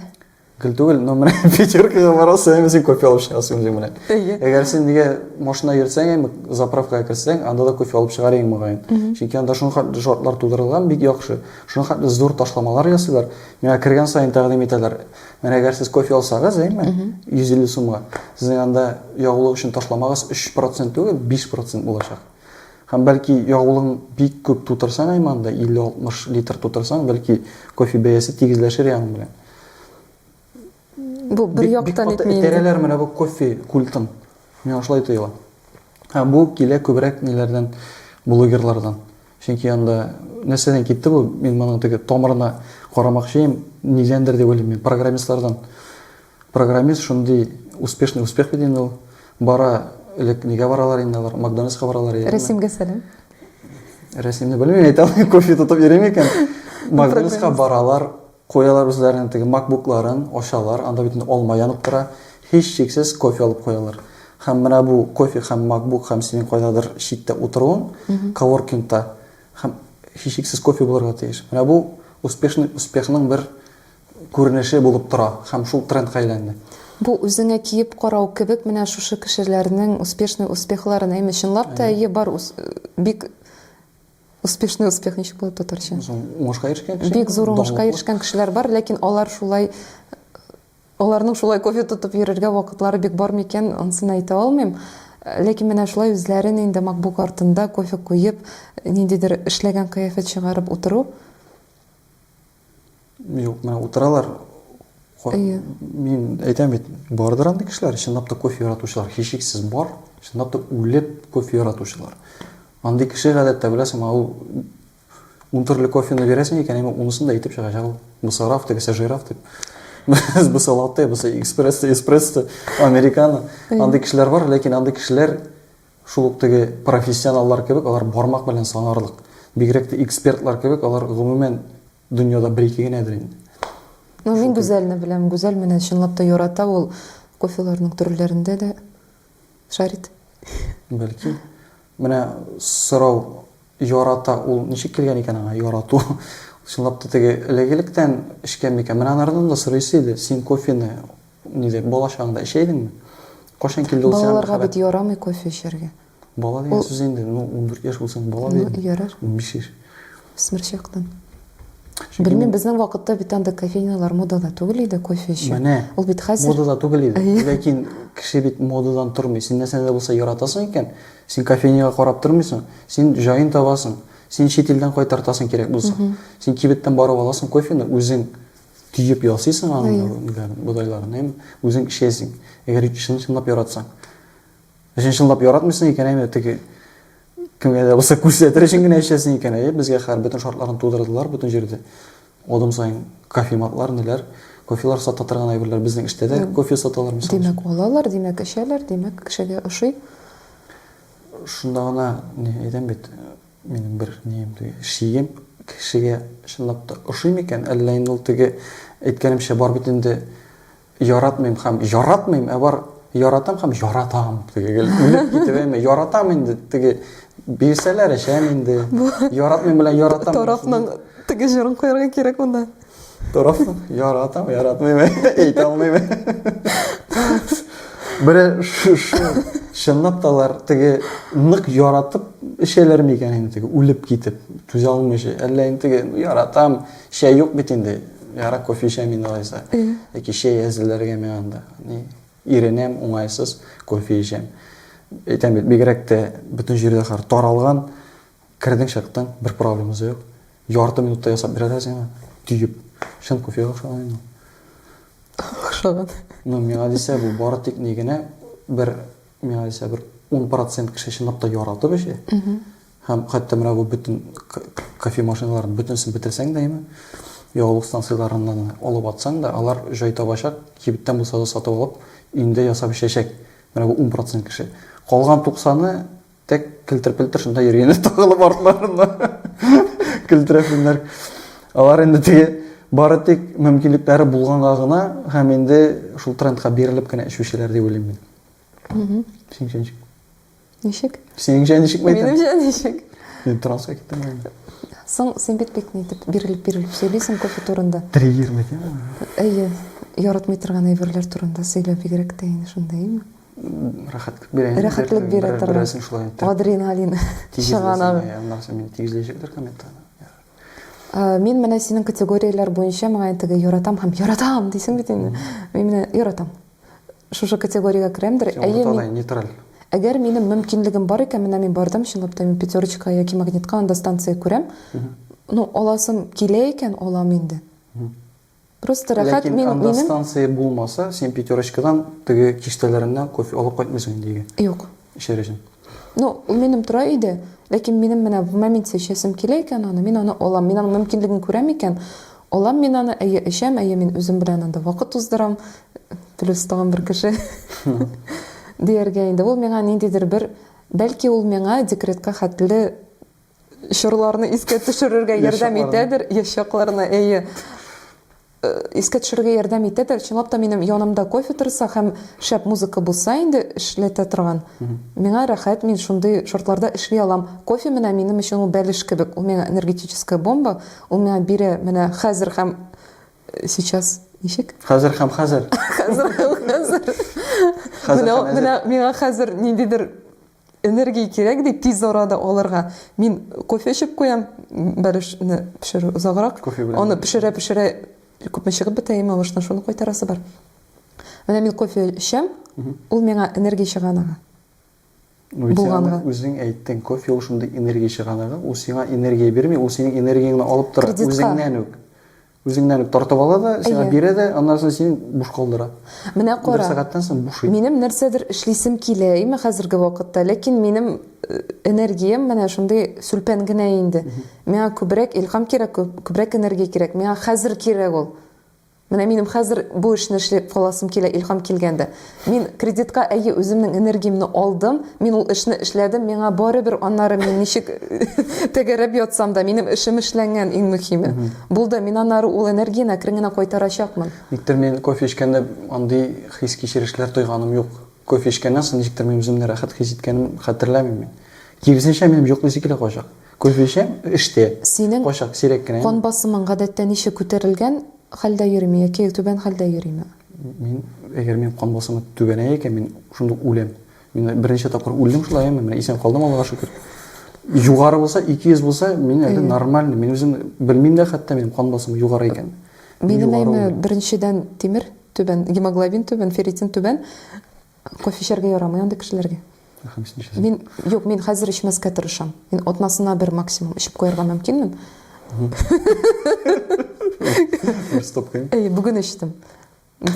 Гел түгел, но менә пятеркага барасың, әйме син кофе алып чыгасың үзең белән. Әйе. Әгәр син нигә машина йөртсәң, әйме заправкага керсәң, анда да кофе алып чыгар идең мөгаен. Чөнки анда шуның хәтле шартлар тудырылган, бик яхшы. Шуның хәтле зур ташламалар ясыйлар. Миңа кергән саен тәкъдим итәләр. Менә әгәр сез кофе алсагыз, әйме, 150 сумга, сезнең анда ягулык өчен ташламагыз 3% түгел, 5% булачак. Һәм бәлки ягулыгың бик күп тутырсаң, әйме анда 50-60 литр тутырсаң, бәлки кофе бәясе тигезләшер янең белән. Бу бер Бик- бик яктан каты әйтми инде. Этәрәләр менә бу кофе культын. Миңа шулай тоела. Һә, бу килә күбрәк ниләрдән? Блогерлардан. Чөнки анда нәрсәдән китте бу? Мин моның теге тамырына карамакчыйм. Нидәндер дип уйлыйм мин. Программистлардан. Программист шундый успешный успех бит инде ул. Бара, элек нигә баралар инде алар? Макдональдска баралар яме. Рәсимгә сәлам. Рәсимне белмим, әйтә алмыйм, кофе тотып йөрим икән. Макдональдска Программист. баралар. Куялар үзләренең теге макбукларын, ачалар, анда бит инде алма янып тора, һичшиксез кофе алып куялар. Һәм менә бу кофе һәм макбук һәм синең кайдадыр читтә утыруың, коворкингта, һәм һичшиксез кофе булырга тиеш. Менә бу успешный успехның бер күренеше булып тора һәм шул трендка әйләнде. Бу үзеңә киеп карау кебек менә шушы кешеләрнең успешный успехларын, әйме, чынлап та әйе бар, бик Успешный успех ничек була татарча? Уңышка ирешкән кеше. Бик зур уңышка ирешкән кешеләр бар, ләкин алар шулай аларның шулай кофе тотып йөрергә вакытлары бик бар микән, ансын әйтә алмыйм. Ләкин менә шулай үзләрен инде MacBook артында кофе куеп, ниндидер эшләгән кыяфәт чыгарып утыру Юк, менә утыралар. Әйе. Мин әйтәм бит, бардыр андый кешеләр, чынлап та кофе яратучылар, һичшиксез бар, чынлап та үлеп кофе яратучылар. Андый кеше гадәттә беләсең, ул ун төрле кофены бирәсең икән, әмма унысын да әйтеп чыгачак ул. Бусы раф, тегесе жираф дип. Бусы латте, бусы экспресс, эспрессо, американо. Андый кешеләр бар, ләкин андый кешеләр Шул ук теге профессионаллар кебек, алар бармак белән санарлык. Бигрәк тә экспертлар кебек, алар гомумән дөньяда бер-ике генәдер инде. Ну, мин Гүзәлне беләм. Гүзәл менә чынлап та ярата ул кофеларның төрләрендә дә шарит. Бәлки. Менә сорау, ярата ул ничек килгән икән аңа ярату? Чынлап та теге элек-электән эчкән микән? Менә анардан да сорыйсы иде, син кофены Ниләр, бала чагыңда эчә идеңме? Кайчан килде ул сиңа мәхәббәт? Балаларга бит ярамый кофе эчәргә. Бала дигән сүз инде, ну, унбер яшь булсаң бала бит инде. Ну, ярар. Унбиш яшь. Үсмер чактан. Белмим, безнең вакытта бит андый кофейнялар модада түгел иде, кофе эчү. Менә. Ул бит хәзер. Модада түгел иде. Ләкин кеше бит модадан тормый. Син нәрсәне дә булса яратасың икән, син кофейняга карап тормыйсың, син җаен табасың. Син чит илдән кайтартасың кирәк булса. Син кибеттән барып аласың кофены, үзең. Төеп ясыйсың аның бодайларын, әйме? Үзең эшләйсең. Әгәр чын-чынлап яратсаң. Әгәр чынлап яратмыйсың икән, әйме, теге кемгә дә булса күрсәтер өчен генә эшләсең икән, әйе, безгә хәр бөтен шартларын тудырдылар бөтен җирдә. Адым саен кофематлар, ниләр, кофелар сата торган әйберләр безнең эштә дә кофе саталар мисал. Димәк, алалар, димәк, эчәләр, димәк, кешегә ошый. Шунда гына әйтәм бит, Минем бер нием теге, шием кешегә чынлап та ошый микән, әллә инде ул теге әйткәнемчә бар бит инде яратмыйм һәм яратмыйм, ә бар яратам һәм яратам теге гел үлеп китеп әйме, яратам инде теге бирсәләр эчәм инде, яратмыйм белән яратам. Тарапның теге җырын куярга кирәк монда. Дөрес, яратам, яратмыйм, әйтә алмыйм. Бер чынлап та алар теге нык яратып эчәләр микән инде теге үлеп китеп, түзә алмыйча. Әллә инде теге яратам, чәй юк бит инде. Яра кофе эчәм инде алайса. Яки чәй әзерләргә миңа анда. Ни, иренәм, уңайсыз кофе эчәм. Әйтәм бит, бигрәк тә бөтен җирдә хәзер таралган Кердең чыктың, бер проблемасы да юк. Ярты минутта ясап бирәләр сиңа, төеп. Чын кофега охшаган инде. Охшаган. Ну, миңа дисә, бу бары тик ни генә бер, миңа дисә, бер 10% кеше чынлап та яратып эчә. Һәм хәтта менә бу бөтен кофе машиналарын бөтенесен бетерсәң дә, әйме, ягулык станцияләреннән алып атсаң да, алар җай табачак, кибеттән булса да сатып алып, өендә ясап эчәчәк. Менә бу 10% кеше. Калган 90-ы Тек килтерпелтер шунда йөргәннәр тагылып артларына. Килтерәфеннәр. Алар инде теге бары тик мөмкинлекләре булганга гына һәм инде шул трендка бирелеп кенә эчүчеләр дип уйлыйм мин. Угу. Синчә ничек? Ничек? Синчә ничек мәйтәм? Минемчә ничек? Мин транска киттем инде. Соң син бит бик ни дип бирелеп бирелеп сөйлисең кофе турында. Триггер мәйтәм. Әйе, яратмый торган әйберләр турында сөйләп бигрәк тә инде шундый, әйеме? рәхәтлек бирә. Рәхәтлек бирә торган. Берәрсен шулай итеп. Адреналин чыганагы. Аннан соң мин тигезләячәктер комментарий. Мин менә синең категорияләр буенча миңа интеге яратам һәм яратам дисең бит инде. Мин менә яратам. Шушы категориягә керәмдер. Әйе, мин нейтраль. Әгәр минем мөмкинлегем бар икән, менә мин бардым, чынлап та мин пятерочка яки магнитка анда станция күрәм. Ну, аласым килә икән, алам инде. Просто рәхәт, Ләкин мин, анда минем... станция булмаса, син пятерочкадан теге киштәләреннән кофе алып кайтмыйсың инде өйгә. Юк. Эчәр өчен. Ну, ул минем тора өйдә, ләкин минем менә в моменте эчәсем килә икән аны, мин аны алам. Мин аның мөмкинлеген күрәм икән, алам мин аны, әйе, эчәм, әйе, мин үзем белән анда вакыт уздырам, плюс тагын бер кеше дияргә инде. Ул миңа ниндидер бер, бәлки ул миңа декретка хәтле чорларны искә төшерергә ярдәм итәдер, яшь чакларны, әйе. Э, искә төшерергә ярдәм итәдер. Чынлап та минем янымда кофе торса һәм шәп музыка булса инде эшләтә торган. Миңа рәхәт, мин шундый шартларда эшли алам. Кофе менә минем өчен ул бәлеш кебек, ул миңа энергетическая бомба, ул миңа бирә менә хәзер һәм э, сейчас ничек? Хәзер һәм хәзер. Хәзер һәм хәзер. Менә миңа хәзер ниндидер Энергия кирәк ди тиз арада алырга. Мин кофе эчеп куям, бәлешне пешерү озаграк. Аны пешерә-пешерә күпме чыгып бетә имә баштан, шуны кайтарасы бар. Менә мин кофе эчәм, ул миңа энергия чыганагы. Ну, Булганга. Үзең әйттең, кофе ул шундый энергия чыганагы, ул сиңа энергия бирми, ул синең энергияңне алып тора, үзеңнән үк. Үзеңнән үк тартып ала да, сиңа бирә дә, аннан соң син буш калдыра. Менә кара. Бер сәгатьтән соң бушый. Минем нәрсәдер эшлисем килә име хәзерге вакытта, ләкин минем э, энергиям менә шундый сүлпән генә инде. Миңа күбрәк илхам кирәк, күбрәк энергия кирәк. Миңа хәзер кирәк ул. Менә минем хәзер бу эшне эшләп каласым килә, илхам килгәндә. Мин кредитка әйе үземнең энергиямне алдым, мин ул эшне эшләдем, миңа барыбер аннары мин ничек тәгәрәп ятсам да, минем эшем эшләнгән иң мөһиме. Булды, мин аннары ул энергияне әкрен генә кайтарачакмын. Никтер мин кофе эчкәндә андый хис-кичерешләр тойганым юк. Кофе эчкәннән соң ничектер мин үземне рәхәт хис иткәнем хәтерләмим мин. Киресенчә, минем йоклыйсы килә кайчак. Күзлечең эштә. Синең Кайчак, сирәк кенә. кан басымың гадәттә ничек, күтәрелгән хәлдә йөриме яки түбән хәлдә йөриме? Мин, әгәр минем кан басымы түбәнәя икән, мин шунда ук үләм. Мин берничә тапкыр үлдем шулай, әмма менә исән калдым, Аллага шөкер. Югары булса, 200 булса, мин әле нормальный, мин үзем белмим дә хәтта минем кан басымым югары икәнен. Минем әйме, беренчедән тимер түбән, гемоглобин түбән, ферритин түбән. Кофе эчәргә ярамый андый кешеләргә. Рәхим син эчәсең. Мин, юк, мин хәзер эчмәскә тырышам. Мин атнасына бер максимум эчеп куярга мөмкинмен. Бер стопкаем. Әйе, бүген эчтем.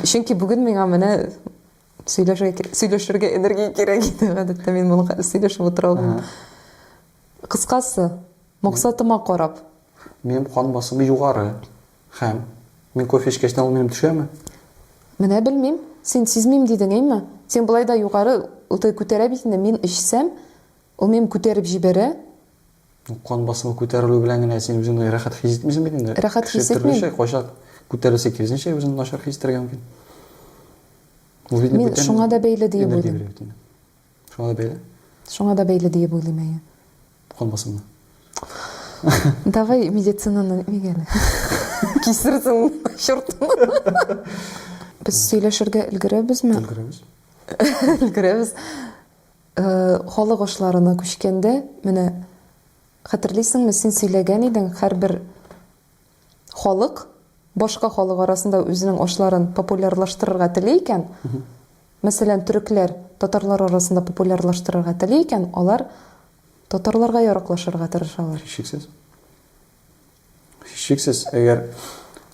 Чөнки бүген миңа менә сөйләшергә, сөйләшергә энергия кирәк иде. Гадәттә мин моны хәзер сөйләшеп утыра алмыйм. Кыскасы, максатыма карап. Минем кан басымы югары. Хәм. Мин кофе эчкәчтен ул минем төшәме? Менә белмим. Син сизмим дидең, әйме? Син болай да югары уты күтәрә бит инде, мин эчсәм, ул минем күтәреп җибәрә. Ну, кан басымы күтәрелү белән генә син үзеңне рәхәт хис итмисең бит инде. Рәхәт хис итмим. Кеше төрлечә, кайчак күтәрелсә, киресенчә үзен начар хис итәргә мөмкин. Ул бит инде бүтән. Мин шуңа да бәйле диеп уйлыйм. Шуңа да бәйле? Шуңа да бәйле диеп уйлыйм, әйе. Калмасынмы? Давай медицинаны ник әле? Кисерсең, чертны. Без сөйләшергә өлгерәбезме? Өлгерәбез. Өлгерәбез. Э, халык ашларына күчкәндә, менә хәтерлисеңме, син сөйләгән идең, һәрбер Халык башка халык арасында үзенең ашларын популярлаштырырга тели икән, мәсәлән, төрекләр татарлар арасында популярлаштырырга тели икән, алар татарларга яраклашырга тырышалар. Һичшиксез. Һичшиксез, әгәр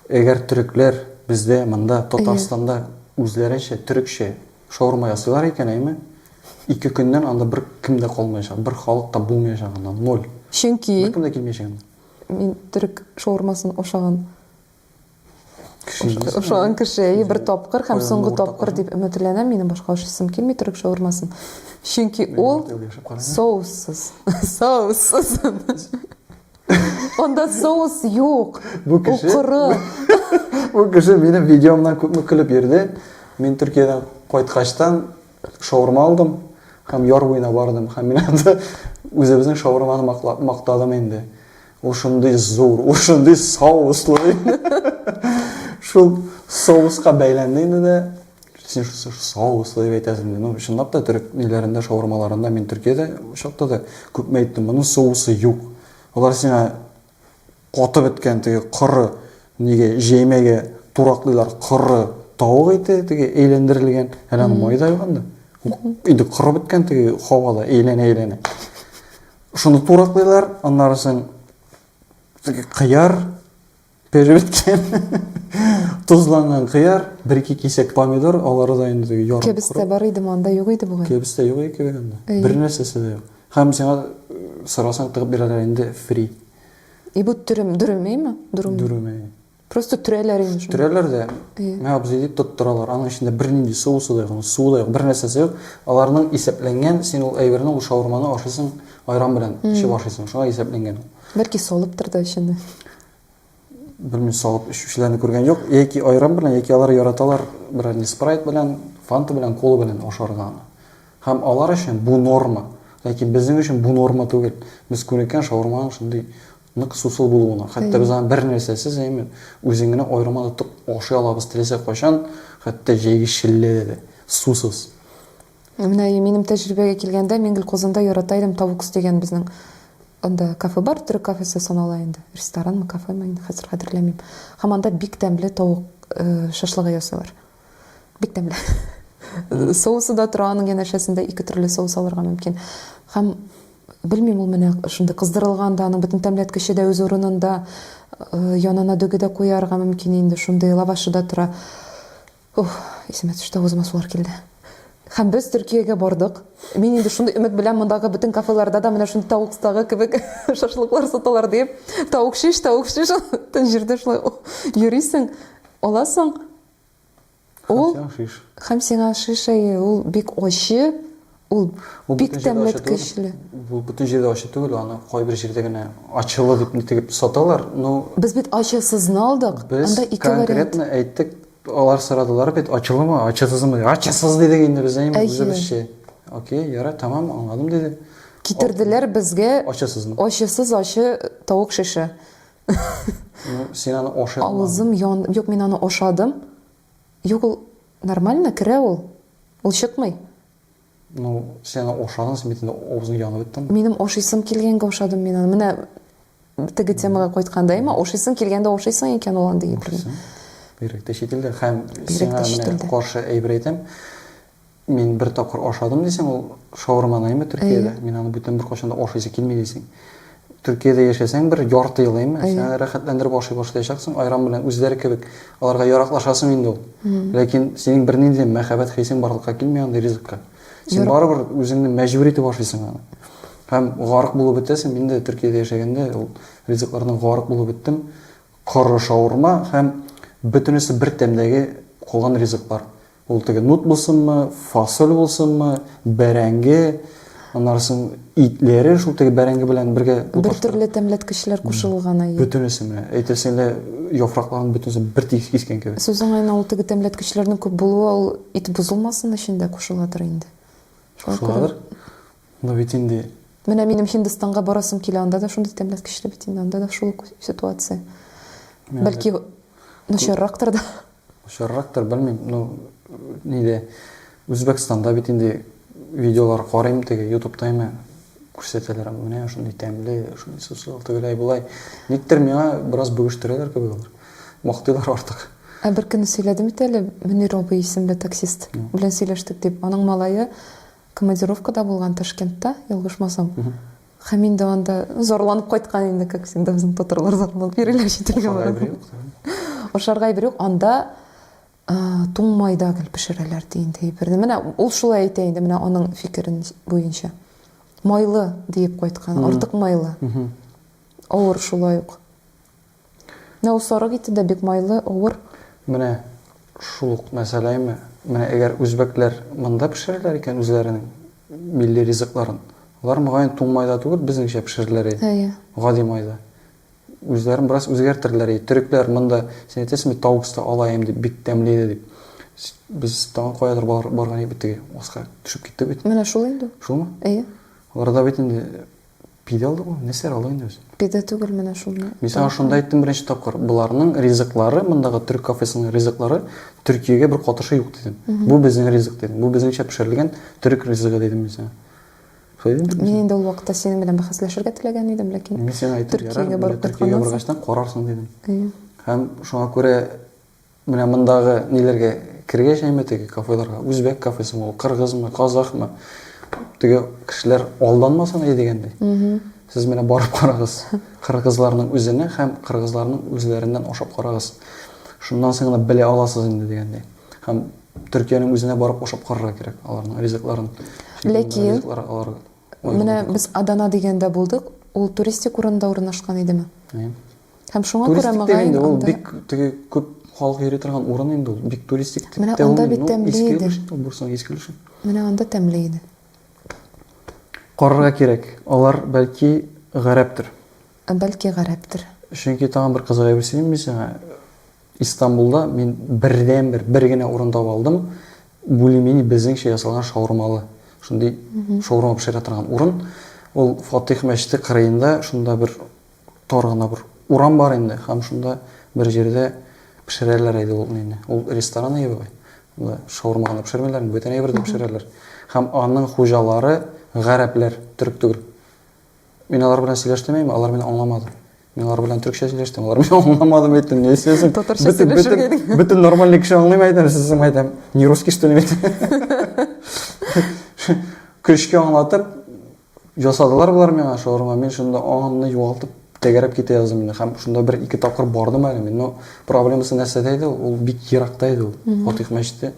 әгәр төрекләр бездә, монда, Татарстанда үзләренчә төрекчә шаурма ясыйлар икән, әйме, ике көннән анда бер кем дә калмаячак, бер халык та булмаячак анда, ноль. Чөнки... Бер кем дә килмәячәк анда. Мин төрек шаурмасын ашаган ашаган кеше и бер тапкыр һәм соңгы тапкыр дип өметләнәм. Минем башка ашыйсым килми төрек шаурмасын. Чөнки ул соуссыз. Соуссыз. Анда соус юк. Бу кеше. Бу кеше минем видеомнан күпме көлеп йөрде. Мин Төркиядән кайткачтан Шаурма алдым һәм яр буена бардым һәм мин анда үзебезнең шаурманы мактадым инде. Ул шундый зур, ул шундый соуслы. Шул соуска бәйләнде инде дә син шусы соуслы дип әйтәсең ди ну чынлап та төрек ниләрендә шаурмаларында мин төркиядә чакта да күпме әйттем моның соусы юк алар сиңа Катып беткән теге коры нигә җәймәгә тураклыйлар коры тавык ите теге әйләндерелгән әле аны май да юган да инде коры беткән теге һавада әйләнә әйләнә шуны тураклыйлар аннарысын теге кыяр пешеп беткән тозланган кыяр бер ике кисәк помидор алары да инде теге ярым кәбестә бар идеме анда юк иде бугай кәбестә юк иде кебек анда бер нәрсәсе дә юк Һәм сиңа сорасаң тыгып бирәләр инде фри. И бу төрем, дөрүмейме? Дөрүм. Дөрүмей. Просто төрәләр инде. Төрәләр дә. Мә абзый дип тоттыралар. Аның эчендә бернинди су суда юк, су да юк, бер нәрсәсе юк. Аларның исәпләнгән, син ул әйберне, ул шаурманы ашыйсың айран белән, эчеп ашыйсың. Шуңа исәпләнгән. Бәлки солыптыр да эчендә. белмим салып эчүчеләрне күргән юк яки айран белән яки алар яраталар бренди спрайт белән фанта белән кола белән ашарга аны һәм алар өчен бу норма ләкин безнең өчен бу норма түгел без күнеккән шаурманың шундый нык сусыл булуына хәтта без аны бер нәрсәсез әймен үзең генә аерма тотып ашый алабыз теләсә кайчан хәтта җәйге челләдә дә сусыз Ә менә минем тәҗрибәгә килгәндә, мин гел Казанда ярата идем Тавукс дигән безнең анда кафе бар, төрек кафесы санала инде. Ресторанмы, кафемы, инде хәзер хәтерләмим. Һәм анда бик тәмле тавык шашлыгы ясыйлар. Бик тәмле. Соусы да тора аның янәшәсендә, ике төрле соус алырга мөмкин. Һәм белмим, ул менә шундый кыздырылган да, аның бөтен тәмләткече дә үз урынында, янына дөге дә куярга мөмкин инде, шундый лавашы да тора. Ух, исемә төште, авызыма сулар килде. Һәм без Төркиягә бардык. Мин инде шундый өмет белән мондагы бөтен кафеларда да менә шундый тавыкстагы кебек шашлыклар саталар диеп, тавык шиш, тавык шиш, тын җирдә шулай йөрисең, аласың. Ул Һәм сиңа шиш. Һәм сиңа шиш, әйе, ул бик ачы, Ул бик тә меткечле. Бу бөтен җирдә ачы түгел, аны кайбер җирдә генә ачылы дип нитегеп саталар, но. Без бит ачысызны алдык, анда ике вариант. Без конкретно әйттек, алар сорадылар бит, ачылымы, ачысызмы дип, ачысыз дидек инде без, әйеме, үзебезчә. Окей, ярый, тәмам, аңладым, диде. Китерделәр безгә. Ачысызмы? Ачысыз ачы тавык шеше. Ну, син аны ашый алмадың. Авызым янды, юк, мин аны ашадым, юк, ул Нормально керә ул. Ул чыкмый. Ну, син аны ашадың, син бит инде авызың янып беттеме? Минем ашыйсым килгәнгә ашадым мин аны. Менә теге темага кайтканда, әмма ашыйсың килгәндә ашыйсың икән ул андый әйберне. Бигрәк тә чит илдә. Һәм сиңа менә каршы әйбер әйтәм. Мин бер тапкыр ашадым дисең, ул шаурманы әйме Төркиядә. Мин аны бүтән беркайчан да ашыйсы килми дисең. Төркиядә яшәсәң, бер ярты ел, әйме, син аны рәхәтләндереп ашый башлаячаксың, айран белән үзләре кебек. Аларга яраклашасың инде ул. Ләкин синең бернинди дә мәхәббәт хисең барлыкка килми андый ризыкка. Син барыбер үзеңне мәҗбүр итеп ашыйсың аны. Һәм гарык булып бетәсең. Мин дә Төркиядә яшәгәндә ул ризыклардан гарык булып беттем. Коры шаурма һәм бөтенесе бер тәмдәге калган ризыклар. Ул теге нут булсынмы, фасоль булсынмы, бәрәңге, аннары соң итләре шул теге бәрәңге белән бергә Бер төрле тәмләткечләр кушылган ай. Бөтенесе менә, әйтерсең лә яфракларын бөтенесе бер тигез кискән кебек. Сүз уңаена ул теге тәмләткечләрнең күп булуы ул ит бозылмасын өчен дә кушыладыр инде. Кушыладыр. Но бит инде Менә минем Һиндстанга барасым килә, анда да шундый тәмләткечле бит инде, анда да шул ук ситуация. Бәлки начаррактыр да. Очаррактыр, белмим, ну, ниде, Үзбәкстанда бит инде видеолар карыйм, теге ютубта име күрсәтәләр, менә шундый тәмле, шундый сусыл, тегеләй болай. Никтер миңа бераз бүгештерәләр кебек алар. Мактыйлар артык. Ә бер көнне сөйләдем бит әле, Мөнир абый исемле таксист белән сөйләштек дип. Аның малае командировкада булган Ташкентта, ялгышмасам. Һәм инде анда зарланып кайткан инде, как всегда, безнең татарлар зарланып йөриләр читергә барып. Ашарга әйбер юк. Анда туң майда гел пешерәләр ди инде әйберне. Менә ул шулай әйтә инде, менә аның фикерен буенча. Майлы диеп кайткан, артык майлы. Авыр шулай ук. Нәусарык ите дә бик майлы, авыр. Менә шул ук мәсьәләме? Менә әгәр үзбәкләр монда пешерерләр икән үзләренең милли ризыкларын, алар, мөгаен, туң майда түгел, безнеңчә пешерерләр иде. Әйе. Гади майда. Үзләрен бераз үзгәртерләр иде. Төрекләр монда, син әйтәсең бит, таукста алаем дип, бик тәмле иде дип. Без тагын каядыр барган идек бит, теге аска төшеп киттек бит. Менә шул инде ул. Шулмы? Әйе. Аларда бит инде Пидә алды бу, нәрсә ала инде үзе? Пидә түгел менә шуны. Мин сиңа шунда әйттем беренче тапкыр, боларның ризыклары, мондагы төрек кафесының ризыклары Төркиягә бер катышы юк дидем. Бу безнең ризык дидем. Бу безнеңчә пешерелгән төрек ризыгы дидем мин сиңа. Шулай дидем бит. Мин инде ул вакытта синең белән бәхәсләшергә теләгән идем, ләкин Мин сиңа әйттем, ярар, Төркиягә барып кайтканнан соң. Төркиягә баргач та карарсың дидем. Әйе. Һәм шуңа күрә Менә мондагы ниләргә кергәчәйме теге кафеларга, үзбәк кафесымы ул, кыргызмы, казахмы, теге кешеләр алданмасын әй дигәндәй. Сез менә барып карагыз, кыргызларның үзенә һәм кыргызларның үзләреннән ашап карагыз. Шуннан соң гына белә аласыз инде дигәндәй. Һәм Төркиянең үзенә барып ашап карарга кирәк аларның ризыкларын. Ләкин ризыклар алар Менә без Адана дигәндә булдык, ул туристик урында урнашкан идеме? Һәм шуңа күрә Туристик мөгаен дигәндә ул анда- бик теге күп халык йөри торган урын инде ул. Бик туристик дип Менә тә анда уйлыйм. бит Ну, тәмле иске иде. өлеш инде ул Бурсаның иске өлеше. Менә анда тәмле иде. Карарга кирәк. Алар, бәлки, гарәптер. Ә бәлки гарәптер. Чөнки тагын бер кызык әйбер сөйлим мин сиңа. Истанбулда мин бердәнбер, бер генә урын таба алдым. Бульмени безнеңчә ясалган шаурмалы, шундый шаурма пешерә торган урын. Ул Фатих мәчете кырыенда, шунда бер тар гына бер урам бар инде, һәм шунда бер җирдә пешерәләр иде ул нени. Ул ресторан иде бугай. Анда шаурма гына пешермиләр, бөтен әйбер дә пешерәләр. Һәм аның хуҗалары гарәпләр, төрек түгел. Мин алар белән сөйләштем әйме, алар мине аңламады. Мин алар белән төркчә сөйләштем, алар мине аңламады, мин әйттем, не сөйләсен? Татарча сөйләшергә идең. Бөтен нормальный кеше аңлыйм әйтәм, сез соң әйтәм, не русский что ли? Көчкә аңлатып ясадылар болар миңа шаурма, мин шунда аңымны югалтып тәгәрәп китә яздым инде. Һәм шунда бер ике тапкыр бардым әле мин, но проблемасы нәрсәдә иде, ул бик еракта иде ул, Фатих мәчете.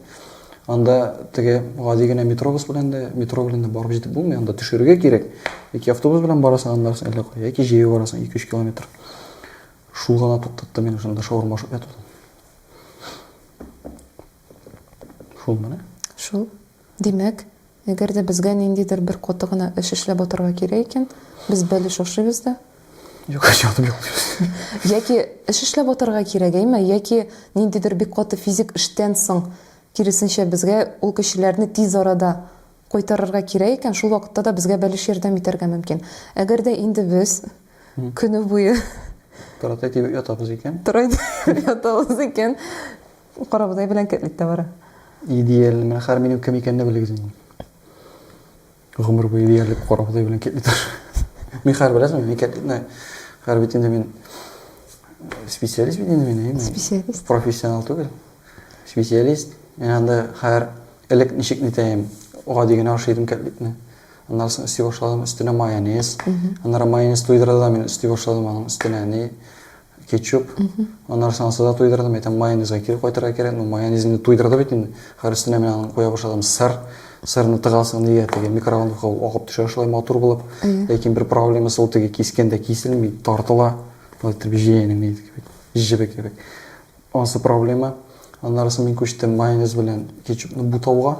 Анда теге гади генә метробус белән дә, метро белән дә барып җитеп булмый, анда төшерергә кирәк. Яки автобус белән барасың, аннары син әллә кая, яки җәяү барасың 2-3 километр. Шул гына туктатты мені шунда шаурма ашап ятудан. Шул менә. Шул. Димәк, Әгәр дә безгә ниндидер бер каты гына эш эшләп атарга кирәк икән, без бәлеш ашыйбыз да. Юк, ятып йоклыйбыз. Яки эш эшләп атарга кирәк, әйме? Яки ниндидер бик каты физик эштән соң, киресенчә, безгә ул кешеләрне тиз арада кайтарырга кирәк икән, шул вакытта да безгә бәлеш ярдәм итәргә мөмкин. Әгәр дә инде без көне буе. Тырат әйтеп ятабыз икән. Тырат әйтеп ятабыз икән, Корабыдай белән кэтлит тә бара. Идеаль, менә хәер минем кем икәнне белегез инде. Гомер буе идеаль корабыдай белән кэтлит. Мин хәер беләсең, мин кэтлитны хәер бит инде мин э, специалист бит инде мин. Специалист. Профессионал түгел. Специалист. Мин анда хәер элек ничек нитәем, гади генә ашый идем кэтлитны. Аннан соң өсти башладым, өстенә майонез. Аннары майонез туйдырды да мин өсти башладым аның өстенә ни Кетчуп. Аннары соң ансада туйдырдым, әйтәм, майонезга кире кайтырга кирәк. Ну, майонез инде туйдырды бит инде. Хәер өстенә менә аны куя башладым. Сыр. Сырны тыгасың нигә теге микроволновка ул агып төшә шулай матур булып. Ләкин бер проблемасы ул теге кискәндә киселми, тартыла. Болай итеп җәянең нидеке кебек, җебе кебек. Ансы проблема. Аннары соң мин күчтем майонез белән кетчупны бутауга.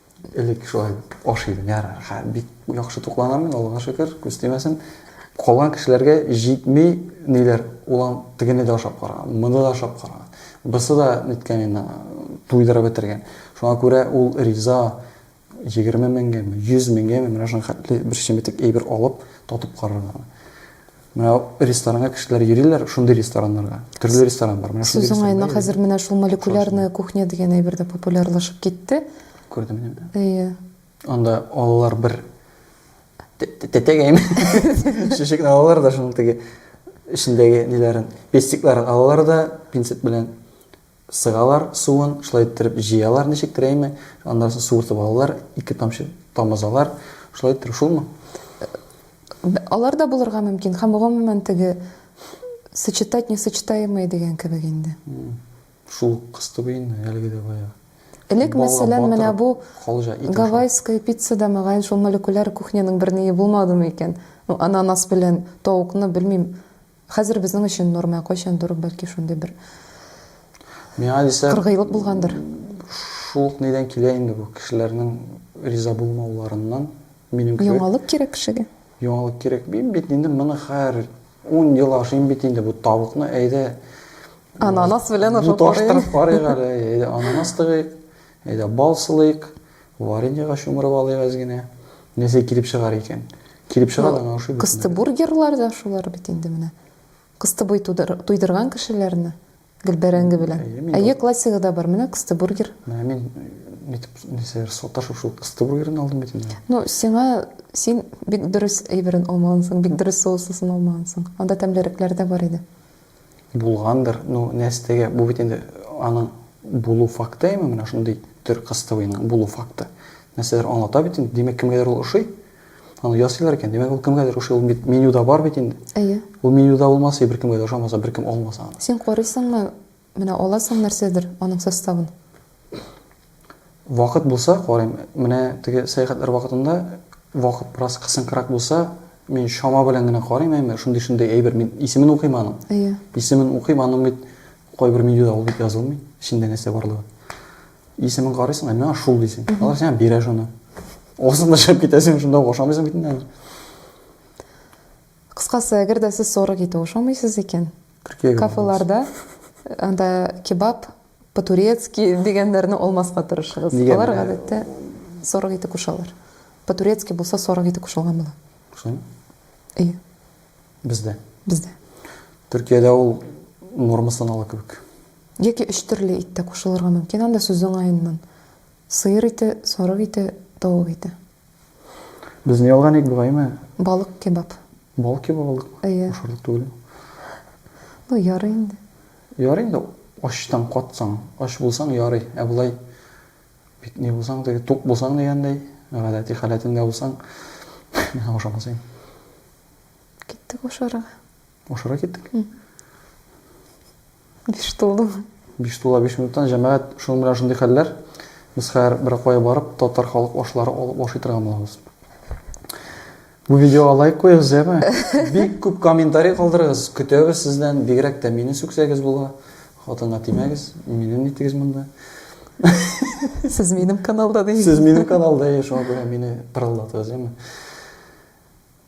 Элек шулай аш идем, ярар, хә, бик яхшы тукланам мин, Аллага шөкер, күз тимәсен. Калган кешеләргә җитми, ниләр, улан тегене дә ашап караган, моны да ашап караган. Бысы да ниткән инде, туйдырып бетергән. Шуңа күрә ул риза, егерме меңгәме, йөз меңгәме, менә шуның хәтле бер чеметек әйбер алып, татып карарга. Менә ресторанга кешеләр йөриләр, шундый рестораннарга. Төрле ресторан бар. Менә шундый Сүз ресторанга уңаена, йөри. хәзер менә шул молекулярная кухня дигән әйбер дә популярлашып китте. Күрдем мин аны. Әйе. Анда алалар бер тә- тә- тәтәгәйме? Шешекне алалар да шуның теге эчендәге ниләрен, пестикларын алалар да пинцет белән Сыгалар суын, шулай иттереп җыялар ничек терәйме, аннан соң суыртып алалар, ике тамчы тамызалар, шулай иттереп шулмы? Алар да булырга мөмкин һәм гомумән теге сочетать несочетаемые дигән кебек инде. Шул ук кыз түгел инде, әлеге дә баягы. Элек, мәсәлән, менә бу гавайская пицца да мөгаен шул молекуляр кухняның берние булмадымы икән? Ну, ананас белән тавыкны, белмим, Хәзер безнең өчен норма, кайчандыр бәлки шундый бер Миңа дисә, кыргыйлык булгандыр. Шул ук нидән килә инде бу кешеләрнең риза булмауларыннан, минем кебек. Яңалык кирәк кешегә. Яңалык кирәк. Мин бит инде моны хәер 10 ел ашыйм бит инде бу тавыкны, әйдә. Ананас белән ашап карыйк. Буташтырып карыйк әле, әйдә ананас тыгыйк. Әйдә, бал сылыйк, вареньега чумырып алыйк әз генә. Нәрсә килеп чыгар икән? Килеп чыга да аңа ошый бит. Кыстыбургерлар да шулар бит инде менә. Кыстыбый туйдырган кешеләрне гел бәрәңге белән. Әйе, классигы да бар, менә кыстыбургер. Менә мин нитеп, нәрсәдер саташып шул кыстыбургерны алдым бит инде. Ну, сиңа, син бик дөрес әйберен алмагансың, бик дөрес соуслысын алмагансың. Анда тәмлерекләр дә бар иде. Булгандыр, ну нәстегә, бу бит инде аның булу факты ме менә шундый төр кыстыбыйның булу факты? Нәрсәдер аңлата бит инде, димәк кемгәдер ул ошый. Аны ясыйлар икән, димәк ул кемгәдер ошый, ул бит менюда бар бит инде. Әйе. Ул менюда булмаса, беркемгә дә ошамаса, беркем алмаса аны. Син карыйсыңмы? Менә аласың нәрсәдер аның составын? Вакыт булса, карыйм. Менә теге сәяхәтләр вакытында вакыт бераз кысынкырак булса, мин чама белән генә карыйм, әмма шундый-шундый әйбер. Мин исемен укыйм аның. Әйе. Исемен укыйм, аның бит кайбер менюда ул бит язылмый, эчендә нәрсә барлыгы. Исемен карыйсың, ә миңа шул дисең. Алар сиңа бирә шуны. Осың да чыгып китә, син шунда ашамыйсың бит инде. Кыскасы, әгәр дә сез сорык ите ашамыйсыз икән, Төркиягә барабыз. Кафеларда анда кебаб, по-турецки дигәннәрне алмаска тырышыгыз. Нигә Алар менә- гадәттә сарык ите кушалар. По-турецки булса сарык ите кушылган була. Кушылмы? Әйе. Бездә. Бездә. Төркиядә ул норма санала кебек. Яки өч төрле ит тә кушылырга мөмкин анда сүз уңаеннан. Сыер ите, сарык ите, тавык ите. Без ни алган идек бугаймы? Балык кебаб. Балык кебаб алдыкмы? Әйе. Ашарлык түгел. Ну, ярый инде. Ярый инде, ачтан катсаң, ач булсаң, ярый. Ә болай бит ни булсаң да, тук булсаң дигәндәй, гадәти халәтеңдә булсаң, миңа ошамас иде. Киттек ашарга. Ашарга киттек? Биш тулы. Биш тула биш минуттан, җәмәгать, шуның белән шундый хәлләр. Без хәзер беркая барып, татар халык ашлары алып ашый торган булабыз. Бу видеога лайк куегыз, яме? Бик күп комментарий калдырыгыз. Көтәбез сездән. Бигрәк тә мине сүксәгез була. Хатынга тимәгез. Мине нитегез монда. Сез минем каналда дигез. Сез минем каналда, шуңа күрә мине пырылдатыгыз, яме?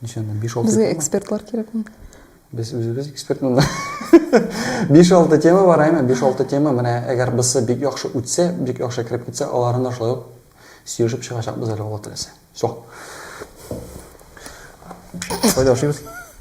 Ничәннән? 5-6 Безгә тема. экспертлар кирәкме? Без үзебез эксперт монда. 5-6 тема бар, әйме? 5-6 тема, менә әгәр бысы бик яхшы үтсә, бик яхшы кереп китсә, аларны да шулай ук сөйләшеп чыгачакбыз әле Алла теләсә. Все. Кайда ашыйбыз?